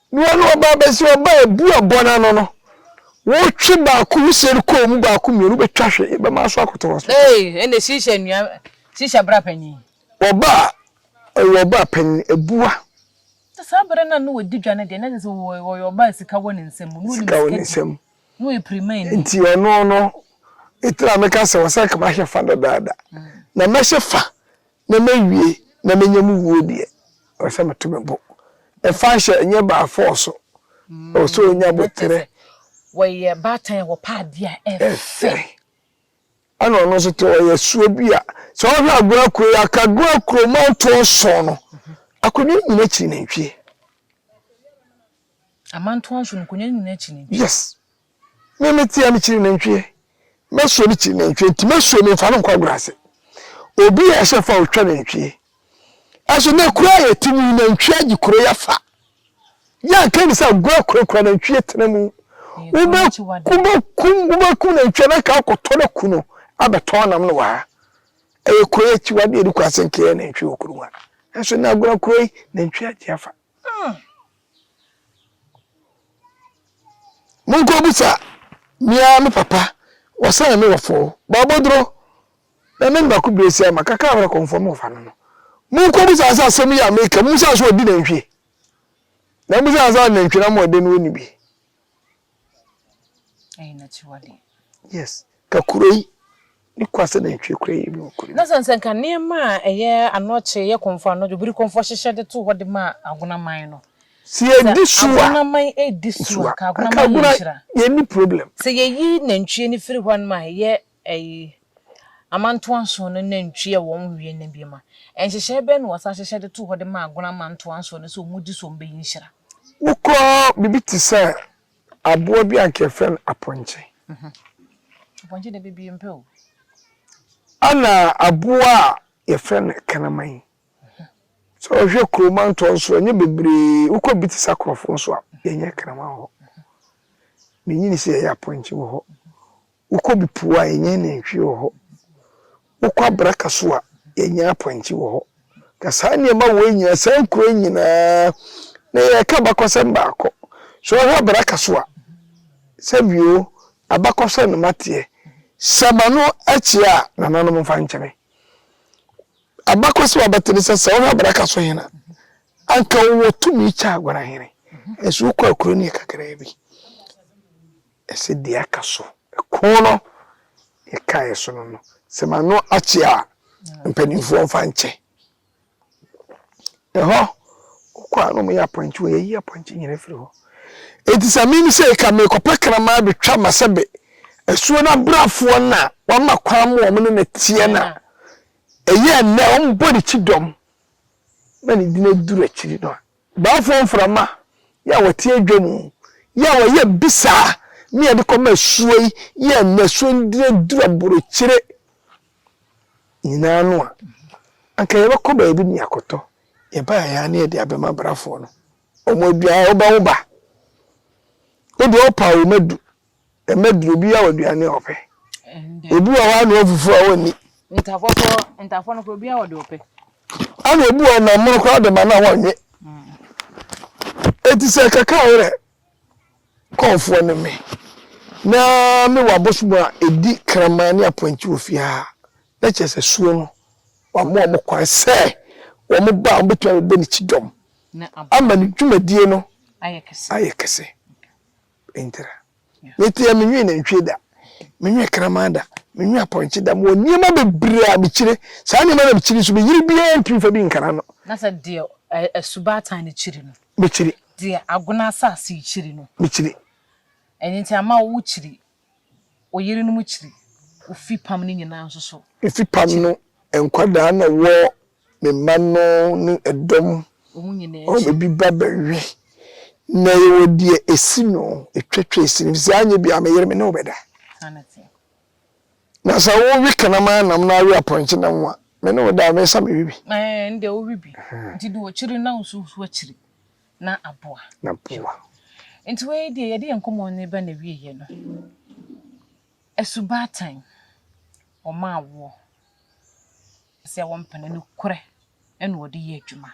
Na ɔno ɔbaa bɛsi ɔbaa ebu ɛbɔ n'ano no wotwe baako mu seri kɔɔ mu baako mmienu wobɛtwa hwe yɛbɛma aso akɔtɔ hospital. Ee ɛnde shisha nua shisha bra panyin. Ɔbaa ɔyɛ ɔbaa panyin abua. Nti saa bere no a na wadi dwa no deɛ na kyerɛ sɛ ɔyɛ ɔbaa a sika wɔ ne nsam na ɔnim sika di na ɔyɛ pirimani. Nti ɔno no me tena meka sɛ ɔsɛ nka mahyɛ fa dadaada na mɛhyɛ fa Na mawie na manya me wuo deɛ, ɛwɔ sɛ meto me bo. Ɛfa hyɛ ɛnyɛ by force, ɛwɔ sɛ ɔnya aboterɛ. Wɔyɛ baatan a wɔpɛ adeɛ a ɛfɛ. Ɛfɛ. Ɛna ɔno nso te ɔyɛ suo bi a, sɛ wohwɛ Agoa kuro yi a, ka Agoa kuro mantoɔ nson no, akonnwa no nyina kyiri nantwie. Amantoɔ nson no, nkonnwa no nyina kyiri nantwie. Yes. Me meteɛ me kyiri nantwie mɛsuo me kyiri nantwie nti mɛsuo me nfa no nkɔ agorɔ ase obi yɛ ɛhyɛ fa otwa nantwie ɛso na ekura yɛ ti mu nantwie agye kuro yɛ fa yɛ nka ni sɛ agorɔ kurakura nantwie tena mu wobɛ wobɛ kum wobɛ kum nantwie na nka akɔtɔ na ku no abɛtɔn nam no waa ɛyɛ kuro yɛ akyiwadeɛ de kɔ asɛnkeɛ nantwie wɔ kuro mu a ɛso na agorɔ kuro yi nantwie agye afa. Hmm. Monko busa mia me papa wɔsɛn me wɔ fɔɔ bɔbɔduro na me nima ko bire si ama kakra wɛrɛ kɔnfɔ mo fa no no monko busa sɛ asɛm yi a meka mo sɛ so ɔdi nantwie na mo sɛ ansa nantwie na mo ɔde no ɔni bi Ɛyɛ n'akyiwadeɛ. Yes. Ka kuro yi ne kwa sɛ nantwie kura yi mu kuro. Na sɛn sɛ nka nneɛma a ɛyɛ anɔkye yɛ kɔnfɔ anɔdwo biri kɔnfɔ hyehyɛ de to hɔ de ma agonaman no. Sɛ yɛdi so a agonaman edi so a ka agonaman yɛ nhyira. Yɛnni problem. Sɛ yɛyi nantwie no firi hɔ nom a ɛyɛ Ɛyi amantoansoɔ no nantwie a wɔn wie no bi ma. Nhyehyɛɛ bɛn na wɔsan hyehyɛ de too hɔ de maa Agona amantoansoɔ no sɛ wɔn di so a wɔbɛyi nhyira? Wokɔ biribi te sɛ aboa bi a anka yɛfrɛ no apɔnkye. Apɔnkye deɛ bebie mpɛ o. Ɛna aboa a yɛfrɛ no kraman. Sɛ wohwɛ kuro mantoansoɔ ɛnyɛ bebree wokɔ biribi te sɛ akorɔfo nso a yɛnyɛ kraman wɔ hɔ. Menyini sɛ yɛyɛ apɔnkye wɔ hɔ. Wokɔ bepɔw a, yɛnya nantwi wɔ hɔ. Wokɔ abraka so a, yɛnya apɔnkye wɔ hɔ. Ka saa nneɛma wei nyinaa, saa nkuro yi nyinaa, na yɛreka abakɔsɛm baako. Sɛ wohwɛ abraka so a, sɛbio, abakɔsɛm na mateɛ. Sɛ m'ano akyi a, nananom mfa nkyɛ me. Abakɔsɛm a bɛte ne sɛ, sɛ wohwɛ abraka so hene a, anka ɔwɔ tumi kyɛ Aguanahene. Nanso wokɔ akuro no yɛ kakraa bi. Ɛsɛ deɛ aka so. Ɛko no yɛkaeɛ so no no, sɛ m'ano akye a, mpanimfoɔ mfa nkyɛ. Ɛhɔ, wokɔ a na wɔyɛ apɔnkye, wɔayiyi apɔnkye nyina afiri hɔ. Enti sɛ me sei ka merekɔpɛ kraman abɛtwa m'asɛbe asuo no abrafoɔ no a wɔama kwan ma wɔn ne no teɛ no a, ɛyɛ nnɛ wɔbɔ ne kyidɔm ma ne din aduru akyiri no a, Baafoɔ mframa yi a wɔte adwa mu yi a wɔyɛ bisaa ne yɛde kɔma asuo yi yi a ɛnɛ asuo no dini aduru aborokyire nyinaa no a, anka yɛbɛkɔ baabi ne yɛakɔtɔ, yɛbaeɛ ara ne yɛde abɛma abrafoɔ no. Wɔn aduane wobɛwo ba. Wo deɛ wopaw wo madu. Ɛmɛ duro obiara wɔ aduane a ɔpɛ. Obi wɔ hɔ a na ɔfufuo a ɔnni. Ntafoɔ koraa ntafoɔ no koraa obiara wɔ deɛ ɔpɛ. Ɛna obi wɔ nam mono koraa de ma no a wɔnwe. Eti sɛ kaka ayerɛ kɔɔfoɔ ne me na mewɔ abosom a ɛdi kraman ne apɔnkye wɔ fie ha a, na kyerɛ sɛ suo no wama wɔn kwan sɛ wɔn ba a wɔbɛtumi abɛbɔ ne kyidɔm ama ne dwumadie no ayɛ kɛse. ntra. Mete a menwe nantwie da, menwe kraman da, menwe apɔnkye da, mewɔ nneɛma bebree a mekyire. Saa nneɛma na mekyiri nso, meyere biara ntumi fa bi nkara no. Na sɛ deɛ asubatan no kyiri no. Mekyiri. Deɛ agona asase kyiri no. Mekyiri. Ɛno nti ama wo kyiri, wo yerenom kyiri, wo fipam no nyinaa nso so. Efipam no nkwadaa na wɔ Me mma no ne ɛdɔm a wɔbɛbi ba bɛwe na yɛwɔ deɛ ɛsi no ɛtwatwa ɛsi no, ɛfiri sɛ anyɛ biara me yere me ne wo bɛda. Na sɛ wowe kanaman nam na awe apɔnkye nam a, me ne wo da a, mɛsa mewe bi. Ɛnde wowe bi, nti deɛ ɔkyiri na wo so woso akyiri na aboa. Na boa. Nti wei deɛ yɛde yɛn nkɔmmɔ no reba n'awieeɛ no, Asubaatan, wɔmaa woɔ. sɛ wɔmpene nokorɛ na wɔde yɛ adwuma.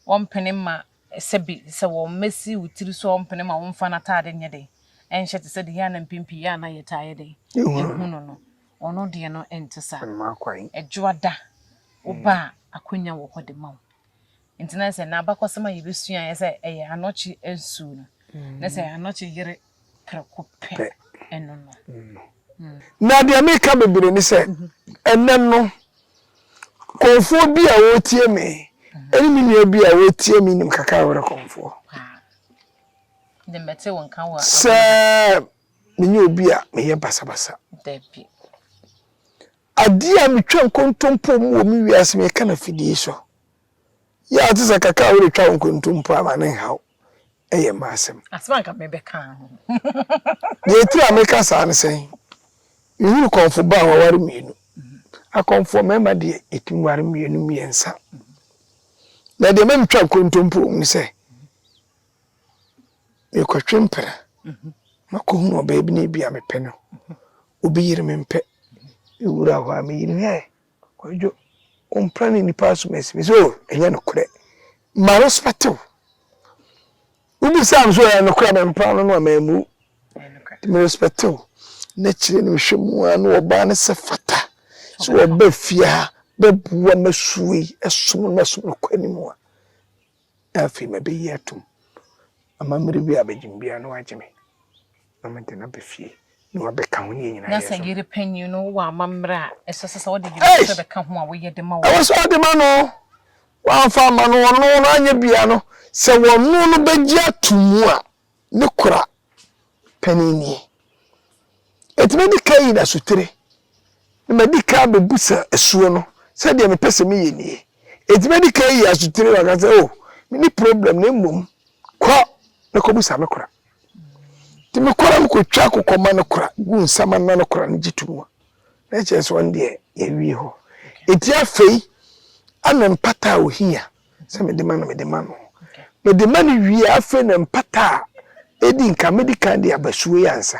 Wɔmpene mma sɛ bi sɛ wɔmmɛsi wo tiri so, wɔmpene mma womfa n'ataade nyɛ dɛn nhyɛ te sɛ deɛ yɛn a na mpɛn pii yɛn a na yɛtaa yɛ dɛn ɛhu no no. Ɔno deɛ no ɛnte saa. Ɛdwoada wo ba a akwanya wɔ hɔ de ma wo. Enti na sɛ n'abakɔsɛm a yebesua yɛ sɛ ɛyɛ anokye nsu no, na sɛ anokye yere prɛko pɛ no no. Na deɛ meka bebree ne sɛ, ɛnnɛ no, kɔmfoɔ bi a ɔretie me, ɛne me nua bi a ɔretie me nim kakra a ɔyɛ kɔmfoɔ. Sɛ menyɛ obi a meyɛ basabasa. Adeɛ a metwa nkontompo mu wɔ me wiase mu, yɛka no afidie yi so. Yɛ a wote sɛ kakra a wode twa wo nkontompo a, ma no nha wo. Ɛyɛ m'asɛm. Asɛm a nka mebɛka ho. Deɛ etiri a meka saa ne sɛn? Mehunu kɔmfo ba a waware mmienu. Akɔmfoɔ mmarima deɛ, yɛtumi ware mmienu, mmiɛnsa. Na deɛ ɛma metwa nkontompo wɔ mu ne sɛ, Mekɔtwe mpena ma kɔhunu ɔbaa bi na ebi a mepɛ no. Obi yere me mpɛ. Mewura hɔ a me yere hwɛ kwadwo ɔmpra ne nipa asom asi me sɛ o ɛnyɛ nokorɛ. Ma respect wo. Wobisa me sɛ ɔyɛ nokorɛ a mempra no no a mammu. Me respect wo. Na kyerɛ no hwɛ mu a na ɔbaa no sɛ fata sɛ ɔba fie ha bɛboa ma suo yi ɛsom no ma som no kɔ anim a. Afei mɛbɛyi atom amammerɛ bi a abɛgye me biara na wagye me, na mede no aba fie na wabɛka ho nea nyinaa yɛ so. Na sɛ yere panyin no wɔ amammerɛ a ɛsɛ sɛ ɔde yere no nso bɛka ho a, wɔyɛ de ma wɔn. Ɛwɔ sɛ ɔde ma no. Wamfa amma no, ɔno no anyɛ biara no, sɛ wɔno no bɛgye atom a. ne kora panin nie. Enti mɛdi kan ayi n'asutire, na madi kan abɛbusa asuo no sɛ deɛ mepɛ sɛ meyɛ nie. Enti mɛdi kan ayi asutire na waka sɛ, o, menni problem na mmom kɔ na kɔbusa me kora. Nti mekɔ na mekɔtwa kokɔma no kora gu nsamanna no kora no gye to mu a, na ɛkyerɛ sɛ ɔno deɛ yɛawie hɔ. Enti afei ɛna mpata a ɔhia. sɛ mede ma no mede ma no mede ma no wie a afei na mpata a ɛdi nka medi kan de aba suo yi ansa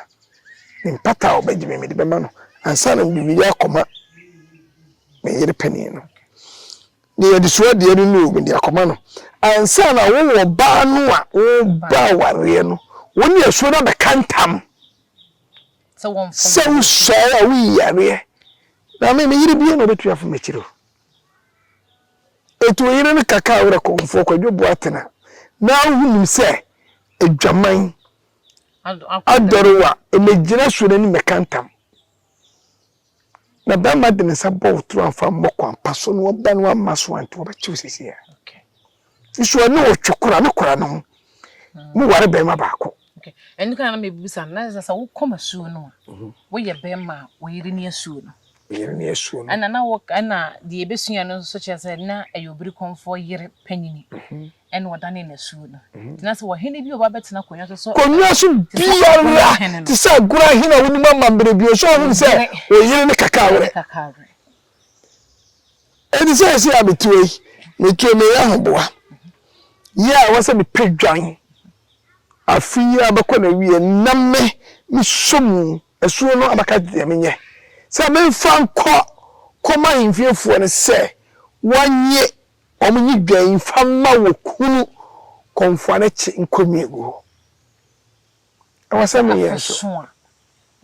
ne mpata a ɔbɛgye me mede bɛma no ansa na mede wiri akɔma me yere panin no ne yɛde so adeɛ no no mede akɔma no ansa na wowɔ baa no a woba awareɛ no wo ne asuo no abɛka ntam sɛ wosɔe a woyi yareɛ na me meyere bie na ɔbɛtumi afom akyiri o Enti ɔyere no ka kaa werɛ kɔmfoɔ Kwadwo Boateng a na ahu nim sɛ adwaman adɔre wo a, mmɛgyina suo no anim mmɛka ntam. Na barima de ne nsa bɔ wo toro amfa ammɔ kwampa so na ɔba no amma so ante wɔbɛkye wo seesei ara. Nso ɔne wo twe kora ne kora no ho. Moware barima baako. Ok, ɛno nti na na mebisa no, na sɛ sɛ wokɔ m'asuo no a, woyɛ bɛrima a woyere ne asuo no? Meyere ne asuo no. Ɛna na wo ɛna deɛ yɛbɛsua no nso kyerɛ sɛ na ɛyɛ obirikɔmfoɔ yere panyini ɛna ɔdanee n'asuo no. Nti na sɛ ɔhene bi ɔba bɛtena akonnwa so sɛ Konnwa so te sɛ biara Agora hene te no, sɛ Agora hene a wonim amammerɛ bio nso ɔhunu sɛ ɔyere ne kakawerɛ. ne kakawerɛ. Enti seesei a mete ha yi, meto me yere ahoboa yi a ɛwɔ sɛ mepɛ dwan afe yi abɛkɔ n'awie na me mesɔ mu asuo no abɛka deɛ menyɛ sɛ memfa nkɔ kɔma ahemfiefoɔ no sɛ wɔnye wɔn nye dwan mfa mma wɔ kunu kɔmfoa no kye nkɔ mmiegu hɔ. Ɛwɔ sɛ meyɛ nso. Sɛ afeso a,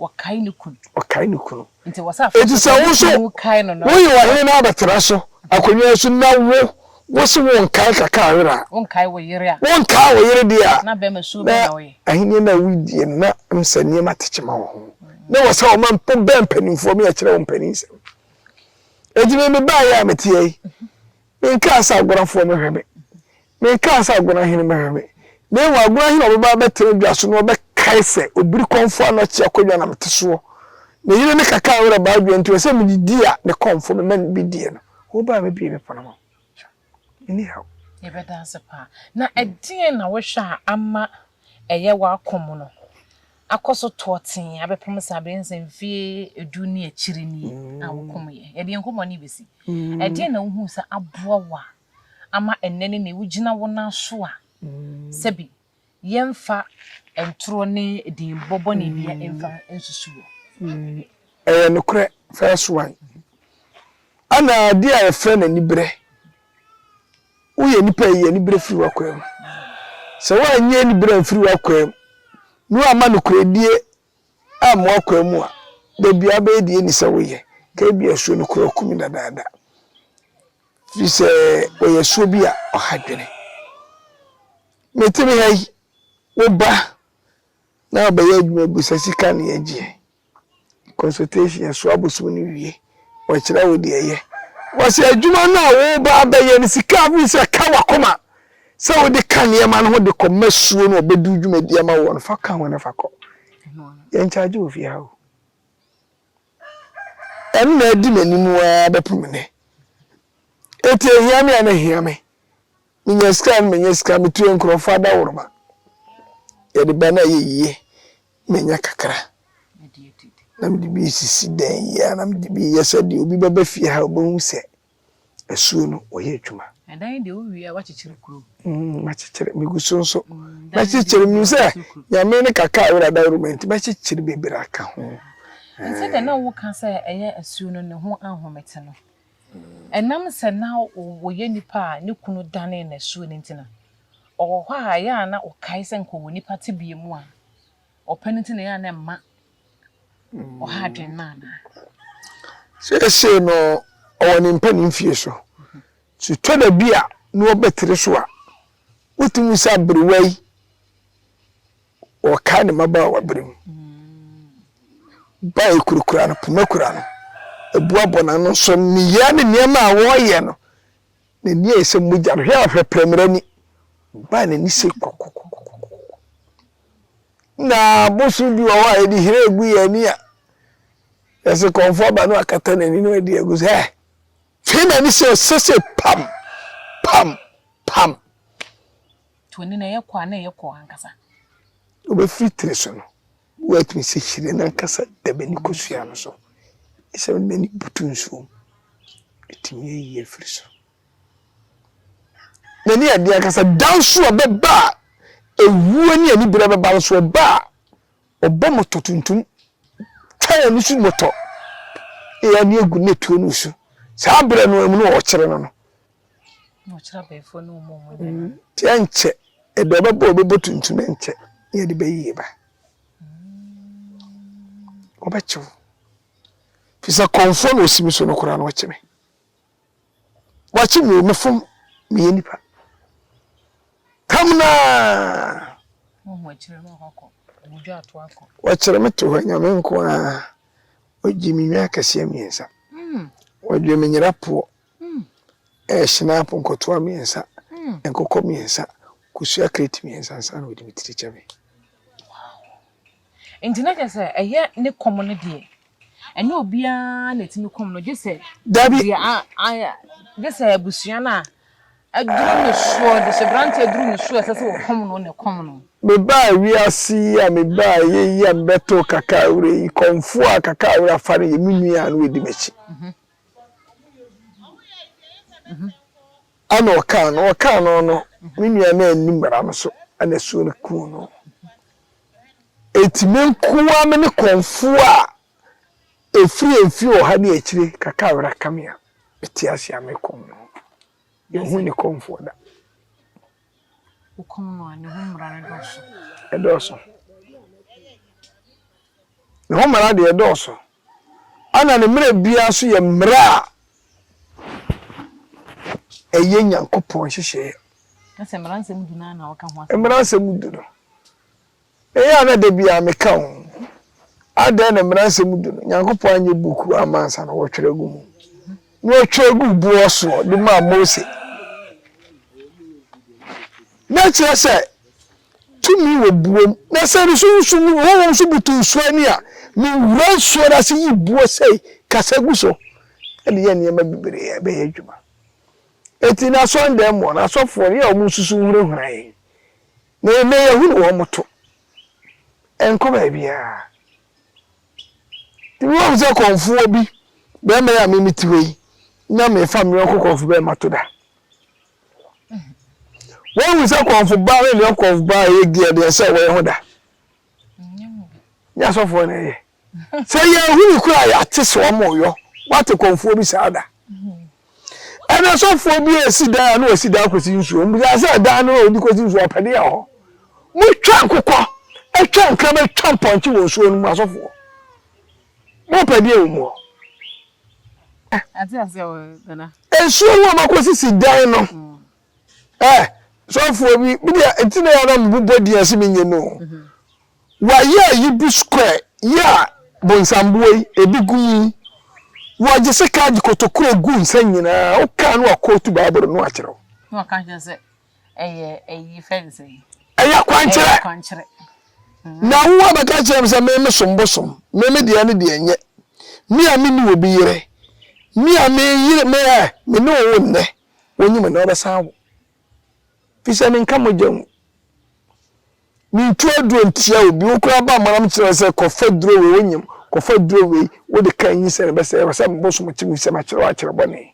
ɔkae ne kunu. Ɔkae ne kunu. Nti ɛwɔ sɛ afeso sɛ ne kunu kae no na. Woyɛ ɔhene na abɛtena so akonnwa yi so na wo wose wonkae kaka yere a. Wonkae wo yere a. Wonkae wo yere deɛ a. Na bɛrima suo bɛn na woyɛ. Na ahenni no a woredie no na ɛm sɛ nneɛma te kyema wɔ ho. Na ɛwɔ sɛ ɔma wobɛn mpanimfoɔ me akyerɛ wo mpaninsɛm. Enti me mebaeɛ a meteɛ yi. Mekaa sɛ, Aguanafoɔ, monhwɛ me! Mekaa sɛ, Aguanahene, monhwɛ me! Na mmom aguanahene a ɔbɛba abɛtena dwa so no, ɔbɛkae sɛ, Obirikɔmfoɔ a na ɔte akonnwa na mete soɔ, ne yere ne kakaa werɛ baa dwa nti, ɔsɛ medidi a ne kɔmfoɔ mema no bi die no. Wobaa a mebue me pono ma wo. Menni haw. Yɛbɛda ase paa. Na ɛdeɛn na wohwɛ a ama ɛyɛ w'akɔ mu no akɔ so toɔ tee abɛpem sɛ abɛyɛ no sɛ mfeɛ du ne akyiri nie a wokomeeɛ. Yɛde yɛn nkɔmmɔ no rebɛsi. Ɛdeɛn na wohuu sɛ aboa wo a ama ɛnnɛ ne nnɛ wogyina wo nan so a sɛbi yɛmfa ntorɔ ne edinbɔ bɔne biara mfa nsusu wo? Ɛyɛ nokorɛ, first one, ɛna adeɛ a yɛfrɛ no aniberɛ woyɛ nipa a eyi anibere firi w'akwaa mu. Sɛ woannye anibere amfiri w'akwaa mu na woamma nokorɛdie amma w'akwaa mu a, da biara wobɛyɛ deɛ ɛnni sɛ woyɛ. Ka ebia asuo no koraa ɔkumi dadaada. Firi sɛ ɔyɛ asuo bi a ɔha dwene. Mete me ha yi, wo ba na ɔbɛyɛ adwuma bi sɛ sika na yɛgyeɛ. consultation yɛsoa abosom no wie wɔkyerɛ wo deɛ yɛ wɔsɛ adwuma no a woba abɛyɛ no sika a wofiri sɛ ka wakoma sɛ wode ka nneɛma no ho de kɔ ma suo no ɔbɛdu dwumadi ama wɔ no fa ka ho na fa kɔ yɛnkyagye wɔ fie ha o ɛno na adi m'anim a bɛpo me nɛ ɛti ɛhia me a na ɛhia me Menya sika no menya sika metua nkurɔfoɔ adaworoma yɛde ba no a ɛyɛ yie menya kakra na mede bi resisi dan yi a na mede bi reyɛ sɛdeɛ obi bɛba fie ha ɔbɛhu sɛ asuo no wɔyɛ adwuma ɛdan yi deɛ wowie a wakyekyere kuro mm, makyekyere megu so nso mm, mɛkyekyere menim sɛ nyame ne kakra a wode adaworoma nti mɛkyekyere bebree aka ho sɛdeɛ na woka sɛ ɛyɛ asuo no ne ho ahomete no Ɛnam sɛ na ɔyɛ nipa a ne kunu danee no asuo no nti no, ɔwɔ hɔ a ɛyɛ a na ɔkae sɛ anka ɔwɔ nipa tebea mu a ɔpɛ no nti na ɛyɛ a na ɛmma ɔha adwene no anaa? Seesei no, ɔwɔ ne mpanin fie so. Sɛ ɛtɔ da bi a na ɔbɛtere so a, wotumi hu sɛ aberewa yi Ɔkae ne mmabaawaberem ba a ekurakura no, poma kura no, abua bɔ n'ano nso nneyɛɛ ne nneɛma a wɔyɛ no, n'ani a ɛyɛ sɛ mogya no, hwɛ a ɔhwɛ prɛmrɛ ni, baa n'ani sɛ kɔkɔkɔkɔkɔkɔ. Na boso bi wɔ hɔ a yɛde hire gu yɛn ani a yɛse kɔmfo aba no akata n'ani no adi agu sɛ fei m'ani sɛ ɛsɛ sɛ pam pam pam To ani na ɛyɛ kɔ a, na ɛyɛ kɔ ankasa. Wobɛfiri tiri so no, woatumi sɛ hyire no ankasa da bɛne kosua no so. Ɛsɛ wode n'ani butu nsuo mu. Ɛtumi yɛ yie firi so. N'ani adeɛ ankasa da nso a bɛba a ɛwuo ne aniberɛ bɛba nso ɔba a ɔbɔ mɔtɔ tuntum twa wɔn so mɔtɔ ɛyɛ ne agu ne tuo no so saa berɛ no mu no ɔkyerɛ no no Nti ɛnkyɛ ɛde ɔbɛbɔ a ɔbɛbɔ tuntum ɛnkyɛ ne yɛde bɛyie ba ɔbɛkye wo fi sɛ kɔnfoɔ na ɔsi me so no koraa na ɔkye me wakye me o mefom meyɛ nipa tam naa wɔkyerɛ me to hɔ nyame nko a ɔgye me nwa akɛseɛ mmiɛnsa wɔdwe me nyera poɔ Sinapu nkɔtoa mmiɛnsa, nkokɔ mmiɛnsa, kosua kreti mmiɛnsa ansa na wɔde me tiri kyɛ me. Nti na kyerɛ sɛ ɛyɛ ne kɔm no deɛ ɛnyɛ obiara na ɛtumi kɔm no gye sɛ gye sɛ abusua no a aduru ne soɔ de sɛ berante aduru ne soɔ ɛsɛ sɛ wɔkɔm no na ɛkɔm no. Mebaa wiase yi a mebaa ɛyɛ yi a mebɛtoo kakaawira yi kɔmfoɔ a kakaawira fa no yɛ me nua a na ɔdi m'akyi. Ɛna ɔkaa no, ɔkaa no no, me nua no anni mmara no so, ɛna asuo no kuu no. Enti me nko ara me ne kɔmfoɔ a ɛfiri mfeɛ ɔha ne akyire kakra a wɛrɛka me a, mete ase a mekɔm no. Yɛnhu ne kɔmfoɔ da. wokum no a, ne ho mmara no dɔɔso? Ɛdɔɔso. Ne ho mmara deɛ, ɛdɔɔso. Ɛnna ne mmerɛ biara nso yɛ mmerɛ a ɛyɛ Nyankopɔn nhyehyɛeɛ. Na sɛ Mmaransɛm Du no ara na wɔka ho asɛm a? Mmaransɛm Du no. Eye a na da biara meka ho. Adɛn na Mmaransɛm Du no, Nyankopɔn anyɛ buukuu amma ansa na wɔtwerɛ guu mu, na ɔtwerɛ guu boɔ soɔ de maa Mose? Na ɛkyerɛ sɛ tumi wɔ buo mu. Na sɛ nsu nsu mu, honhom nso butu nsuo ani a, me wura nsuo no ase yi buo sei, kasa gu so, de yɛ nneɛma bebree a ɛbɛyɛ adwuma. Enti n'asɔredan mu hɔ no, asɔfoɔ no, yɛ a wɔnsusu nhurahura yɛn, Na ɛnnɛ yɛahunu wɔn to ɛnkɔ baabiara. Ebi wɔ hɔ sɛ kɔmfoɔ bi, barima yi a me mete hɔ yi, na mefa me yɔnko kɔmfo barima to da. Wɔahu sɛ kɔmfo baa ne ne yɔnko kɔmfo baa yɛ gea deɛ sɛ wɔyɛ ho da. Ne asɔfoɔ na ɛyɛ. Sɛ yɛhunu koro a yɛate sɛ wɔreyɔ wate kɔmfoɔ bi saa da. Ɛna sɔfoɔ bi resi dan a na wasi dan kɔsi nsuo. Mbisa sɛ dan no a ɔde kɔsi nsuo ɔpɛ deɛ wɔ hɔ. Motwa nkokɔ, twa nkrama, twa mpɔnkye wɔ nsuo no mu asɔfoɔ. Mopɛ deɛ wɔ mu hɔ. Nsuo no a makɔsisi dan no. Eh sɔfoɔ bi me deɛ nti na yɛ na me bobɔ din ase me nye no wa yɛ yi bi square yɛ a bonsamboɔ yi ebi gu mu wɔ gye se ka gye kotokuro gu nsa nyinaa wo ka no wa kootu baaboro no akyerɛ wo na waka kyerɛ sɛ ɛyɛ ɛyi fɛ ne sɛ ɛyɛ akwankyerɛ na wo wa bɛka kyerɛ me sɛ me me som bosom me me deɛ ne deɛ nyɛ me a me ni obi yere me a me yere me ɛ me ne wo nnɛ Wonyi me na wɔbɛsan wo. Efisɛ menka mogya mu. Mintu aduro ntia obi. Wo koraa ba mmanam kyerɛ wo sɛ, 'Kɔfa duro wei, wonyem. Kɔfa duro wei, wode ka nyinsɛn no bɛsɛe. Ɛwɔ sɛ mebosom kye wo efisɛ makyerɛ wo akyerɛ bɔne.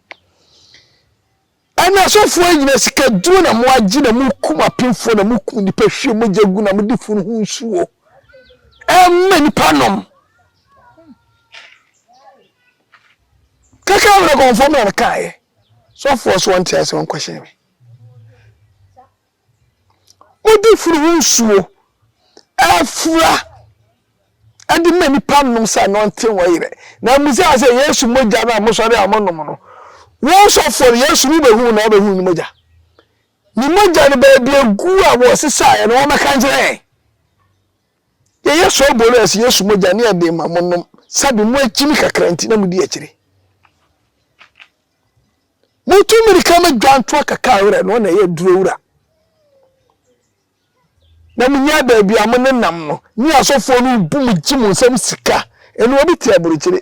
Ɛnna asɔfoɔ yi gyina sikaduro na moagye na mokum apemfoɔ na mokum nnipa hwie mogya gu na mode funu ho nsuo ma nnipa nom. Kɛkɛ na kɔnfoɔ mu na no kaeɛ. Sɔfoɔ so ɔnte ase ɔnkɔhyɛn me. Wode funu ho nsuo afura ɛde ma nipa nom sɛ na ɔnte wɔ yerɛ. Na mmusa sɛ Yesu mogya no a mosɔre a monom no, wɔn sɔfoɔ no Yesu no bɛhu na ɔbɛhu ne mogya. Ne mogya no baabi agu a wɔsesaeɛ no wɔmmɛka nkyerɛ yɛn. Yɛyɛ sɔɔ boro ɛse Yesu mogya ne ɛde ma mo nom sɛde mo akyini kakra nti na mo di akyire. Motu mirika ma dwantoa kaka werɛ no na ɛyɛ duro wura. Na mo nya baabi a mo ne nam no ne asɔfoɔ no bu mo gye mo nsam sika ɛnu obi te aburukyire.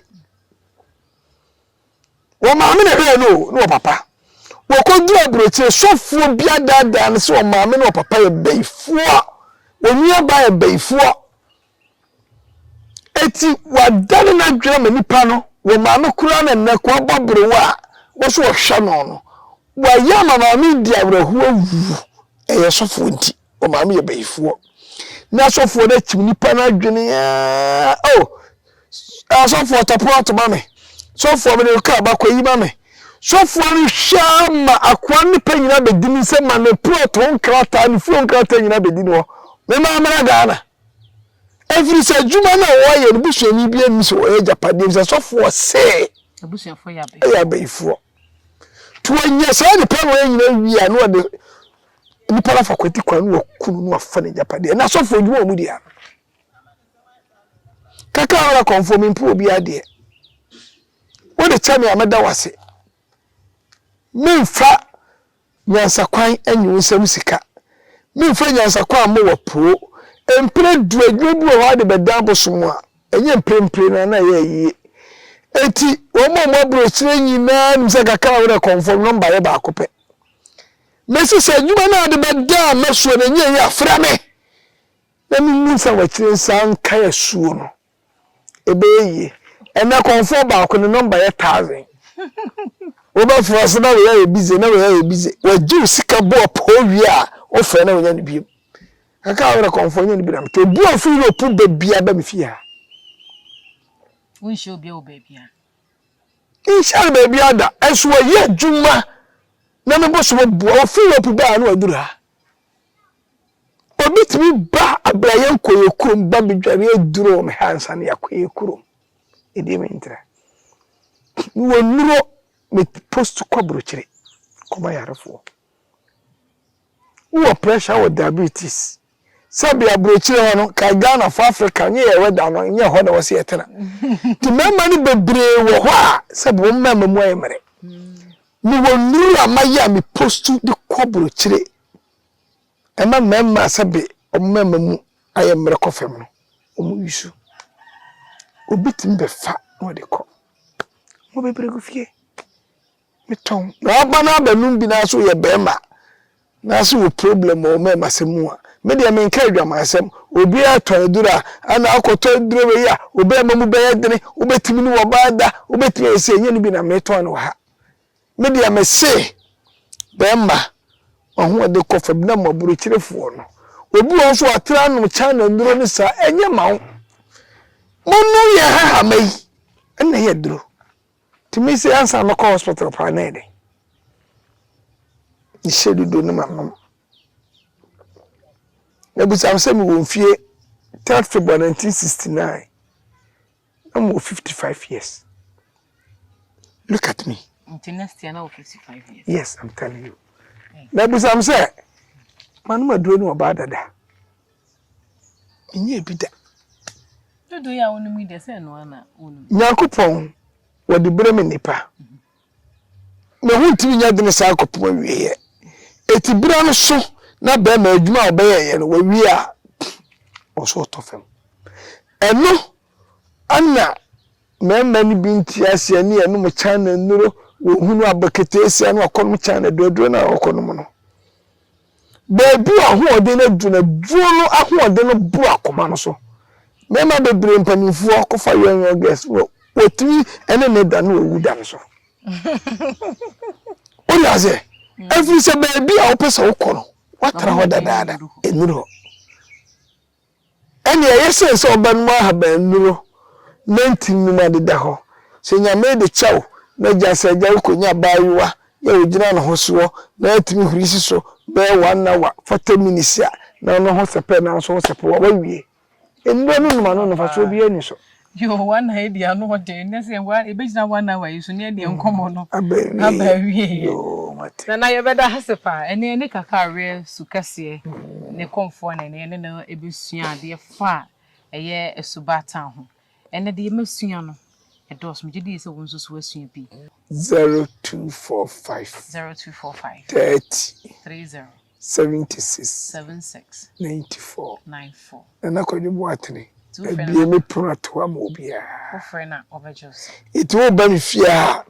Wɔ maame na ɛbɛyɛ no o ne wɔ papa. Wɔkɔduru aburokyire sɔfoɔ bi adaadaa no sɛ wɔ maame ne wɔ papa yɛ bayifoɔ. Wɔ nuabaa yɛ bayifoɔ. Eti wadane n'adwene ma nipa no wɔ maame koraa na nnɛ kɔ abɔ berewa a wɔso wɔhwɛ no no. Wayɛ ama maame di awerɛhoɔ awu ɛyɛ sɔfoɔ nti. Wɔn maame yɛ bayifoɔ. Na asɔfoɔ no atim nipa no adwene aa. Oh, asɔfoɔ tɔpono ato ma me. Sɔfoɔ mede kaa bakɔ yi ma me. Sɔfoɔ no hwɛ ma akoa no nipa nyinaa bɛdi ne nsɛm ma ne plot ho nkrataa ne fie ho nkrataa nyinaa bɛdi ne hɔ. Mema mmra Ghana. Ɛfiri sɛ adwuma no a wɔayɛ no busuani bi ani sɛ wɔyɛ agyapadeɛ sɛ sɔfoɔ se ɛyɛ abayifoɔ. Nti wɔnya saa nipa no wɔyɛ nyinaa wie a na wɔde Nnipa no afa kwati kwan no wɔku no no afa no agyapadeɛ na asɔfoɔ adwuma wɔn deɛ ano kaka ara kɔnfoɔ mempo obi adeɛ wode kyɛ me a mɛda wo ase memfa nyansakwan anyi wo nsam sika memfa nyansakwan ammɔ wɔ poo mpere du adwuma bi wɔ hɔ ade bɛdan bosom a ɛnyɛ mprempren na na ɛyɛ yie enti wɔn a wɔn aburokyire nyinaa nim sɛ kaka ara wode kɔnfoɔ nɔmba yɛ baako pɛ Mese sɛ adwuma no a wode bɛda m'asuo no nyɛe a, frɛ me, na menni nsa wɔ akyire nsan nkae asuo no. Ɛbɛyɛ yie. Ɛnnɛ kɔmfoɔ baako ne nɔmba yɛ thousand. Wobɛfrɛ ɔse na wei ayɛ busy, na wei ayɛ busy. Wagye wo sika bɔ ɔpoo wie a, wofrɛ na wonya no biom. Ɛka wo werɛ kɔmfoɔ nyɛ no bi na mete. Obi a ɔfiri Europe ba biara ba me fie ha. Wonhyia obiara wɔ baabiara. Nhyɛɛ baabiara da, nso wɔyɛ adwuma na me bo so bɛboa. Wɔfiri Europe baa na wɔaduru ha. Obi tumi ba abira yɛn kɔ yɛn kurom ba bedware aduru me ha ansa na yɛakɔ yɛn kurom. Ɛdeɛ mentra. Mewɔ nnuro me post kɔ aburokyire kɔma yarefoɔ. Wowɔ pressure wɔ diabetes. Sɛbea burokyire hɔ no, kae Ghana fo Africa nyɛ yɛn weather no, nyɛ hɔ na ɛwɔ sɛ yɛtena. Nti mmarima no bebree wɔ hɔ a, sɛbe wɔn mmarima mu ayɛ mmere. Mewɔ nnuru a mayɛ a me postu de kɔ burokyire. Ɛma mmarima a sɛbe wɔn mmarima mu ayɛ mmere kɔ fam no, wɔn use. Obi tumi bɛfa na ɔde kɔ. Mo bebree gu fie. Metɔn. Na ɔba no abanum bi na so yɛ bɛɛma na so wɔ problem wɔ mɛɛma sɛm mu a me deɛ me nka adwaman sɛm obiaa tɔn aduru a ɛna ɔkɔ tɔ aduru wei a wo bɛɛma mu bɛyɛ dene wo bɛtumi ne wɔba ada wo bɛtumi ayɛ sei ɛnyɛ no bi na me tɔn no wɔ ha me deɛ me se bɛɛma ɔho ɔde kɔ fam na mɔboro kyerefoɔ no obi wɔn so ɔtra nom china nuro ne saa ɛnyɛ ma wo mo no yɛ hahama yi ɛna yɛ duro Tumi se ansa mɛkɔ hospital paa na ɛdɛn? Mehyɛ dudu no m'anom. Mebisa wo sɛ mewɔ mfie third February 1969 na mewɔ 55 years. Look at me. Nti next year na wɔ 55 years. Yes, I'm telling you. Mebisa wo sɛ manom aduro ne ɔbaa dada. Menyɛɛ bi da. Dodoɔ yi a wonom yi deɛ sɛ ɛno ara na wonom. Nyankopɔn, wɔde berɛ me nnipa. Me ho ntumi nyɛ dene saa kɔpem awieɛ. Eti bra no so na bɛma adwuma a wɔbɛyɛeɛ no wɔawie a, wɔn so wɔtɔ fam. Ɛno na mmarima no bi nte aseɛ ne ɛnom China nnuro, wɔhunu abɔ keteesia na wɔakɔnom China aduaduro no a wɔkɔnom no. Baabi a ahoɔden no aduru no, aduro no ahoɔden no boro akoma no so. Mmarima bebree mpanimfoɔ kɔfa young young girls no, wɔtumi ne ne da na wɔwu da no so. Wode aseɛ? Mm. Ɛfiri sɛ baabi a wopɛ sɛ wokɔ no, woatra hɔ dadaada, ɛnuru hɔ. Ɛnneɛ yɛ sure sɛ wobɛnom ahaban nnuro na nti nnum adeda hɔ. Sɛ Nyame de kyɛ wo na gya sɛ agya wokɔnya abaayewa yɛ ɔgyina ne ho soɔ na atumi huri si so bɛyɛ one hour, forty minutes a, na ɔno ho sɛpɛ nanso wo sɛpɛ wo a, woawie. Nnuro no nom ano no mfasoɔ biara nni so. Yoo one hour yi deɛ ano ɔden na sɛ wa yɛbɛgyina one hour yi so na yɛdeɛ nkɔmmɔ no Aba aba awieɛ. awieɛ. Yoo mate. Nana yɛbɛda hase paa ɛnɛ yɛne kaka awerɛ su kɛseɛ ne kɔmfoɔ na ɛnɛ yɛne no ɛbɛsua adeɛ fa a ɛyɛ asubaataa ho ɛnɛ deɛ masua no ɛdɔɔso megye die sɛ wo nso so wasua bi. Zero two four five. Zero two four five. Thirty. Three zero. seventy six ninety four Nana Kwadwo Boatene abue me pono ato hɔ ama obiara nti woba me fie ha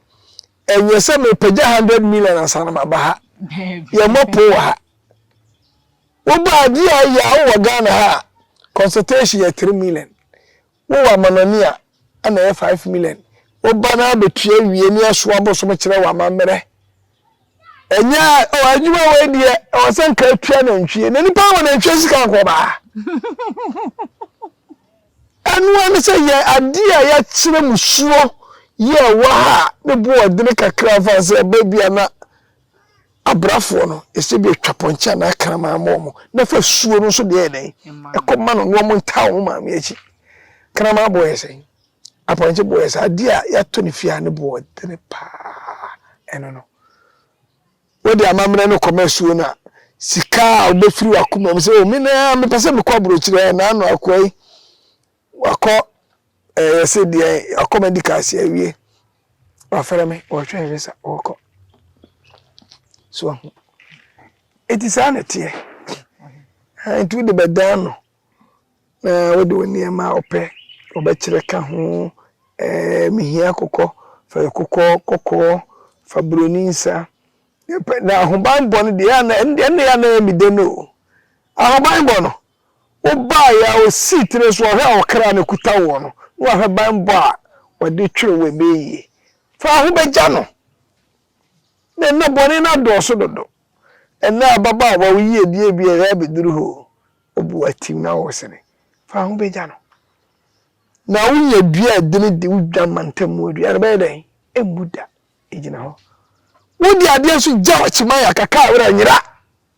a ɛnyɛ sɛ mepagya hundred million ansa na maba ha yɛmmɔ po wɔ ha woba adeɛ a yɛ a wowɔ Ghana ha a consultation yɛ three million Wowɔ amanɔne a, na ɛyɛ five million. Woba no ara bɛtua wie ne ɛso abosom kyerɛ wo amammerɛ. Ɛnyɛ a, oh, adwuma wei deɛ, ɛwɔ sɛ nka atua nantwie. Na nipa wɔ nantwie sika nkɔ baa. Ɛno ara ne sɛ yɛ adeɛ a yɛakyerɛ mu soɔ yɛ wɔ ha a, ne boɔdene kakra fa sɛ ɛba bi a na Abrafoɔ no, ɛsɛ bi ɛtwa pɔnkye anaa kraman ma wɔn, na ɛfa suo no nso deɛ ɛyɛ dɛn? Ɛkɔ ma no, na wɔn ntaa wɔn maame akyi. Kraman boɔ yɛ sɛn? Apɔnkye boɔ yɛ sɛn? Adeɛ a yɛatɔ no fie a ne boɔ dene paa, ɛno no. Wode amammerɛ no kɔma asuo no a, sika a wobɛfiri w'akoma mu sɛ, o me na mepɛ sɛ mekɔ aburokyire, ɛnna ano akoa yi, Wakɔ ɛɛ yɛsɛ deɛ wakɔ medical si awie wafrɛ me ɔrehwɛ ne visa ɔrekɔ so ahu eti saa na ɛteɛ nti wode bɛdan no na wode wo nneɛma a ɔpɛ ɔbɛkyerɛ ka ho ɛɛ mehia kokɔ fa kokɔ kɔkɔɔ fa buroni nsa na ahobanbɔ no deɛ ɛna ɛna ɛna ɛmide no ahobanbɔ no. Wobaeɛ a, ɔsii tire so, ɔhwɛ a ɔkra no kuta woɔ no, na wahwɛ banbɔ a wɔde twere wo ɛbɛyɛ yie. Fa wo ho bɛgya no, na ɛnnɛ bɔne no adɔɔso dodo. Ɛnnɛ ababaawa, wo yiedie bi a ɛyɛ abɛduru hɔ o, wo bo atim na woresere. Fa wo ho bɛgya no. Na wonya dua a ɛdene di, wo dwamantam mu adua no bɛyɛ dɛn? Ɛmmu da, ɛgyina hɔ. Wode adeɛ nso gya w'akyi ma yɛn, aka ka a, wo werɛ nyera.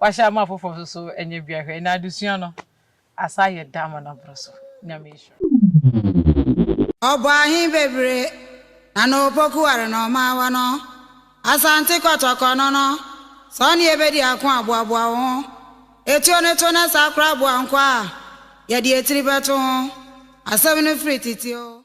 Wahyɛ ama afoforɔ nso so ɛnyɛ bia hwɛ ɛnɛ adesua no asan ayɛ dɛ ama no aboro so Nyame nhyira. Ɔbɔ ahe bebire na na opoku ware na ɔmaawa no Asante kɔtɔkɔ no no Sɛ ɔne yɛ bɛdi ako a boaboa wo ho Etuo no to na saa koraa boa nkwa a yɛde etiri bɛto ho Asɛm no firi tete oo.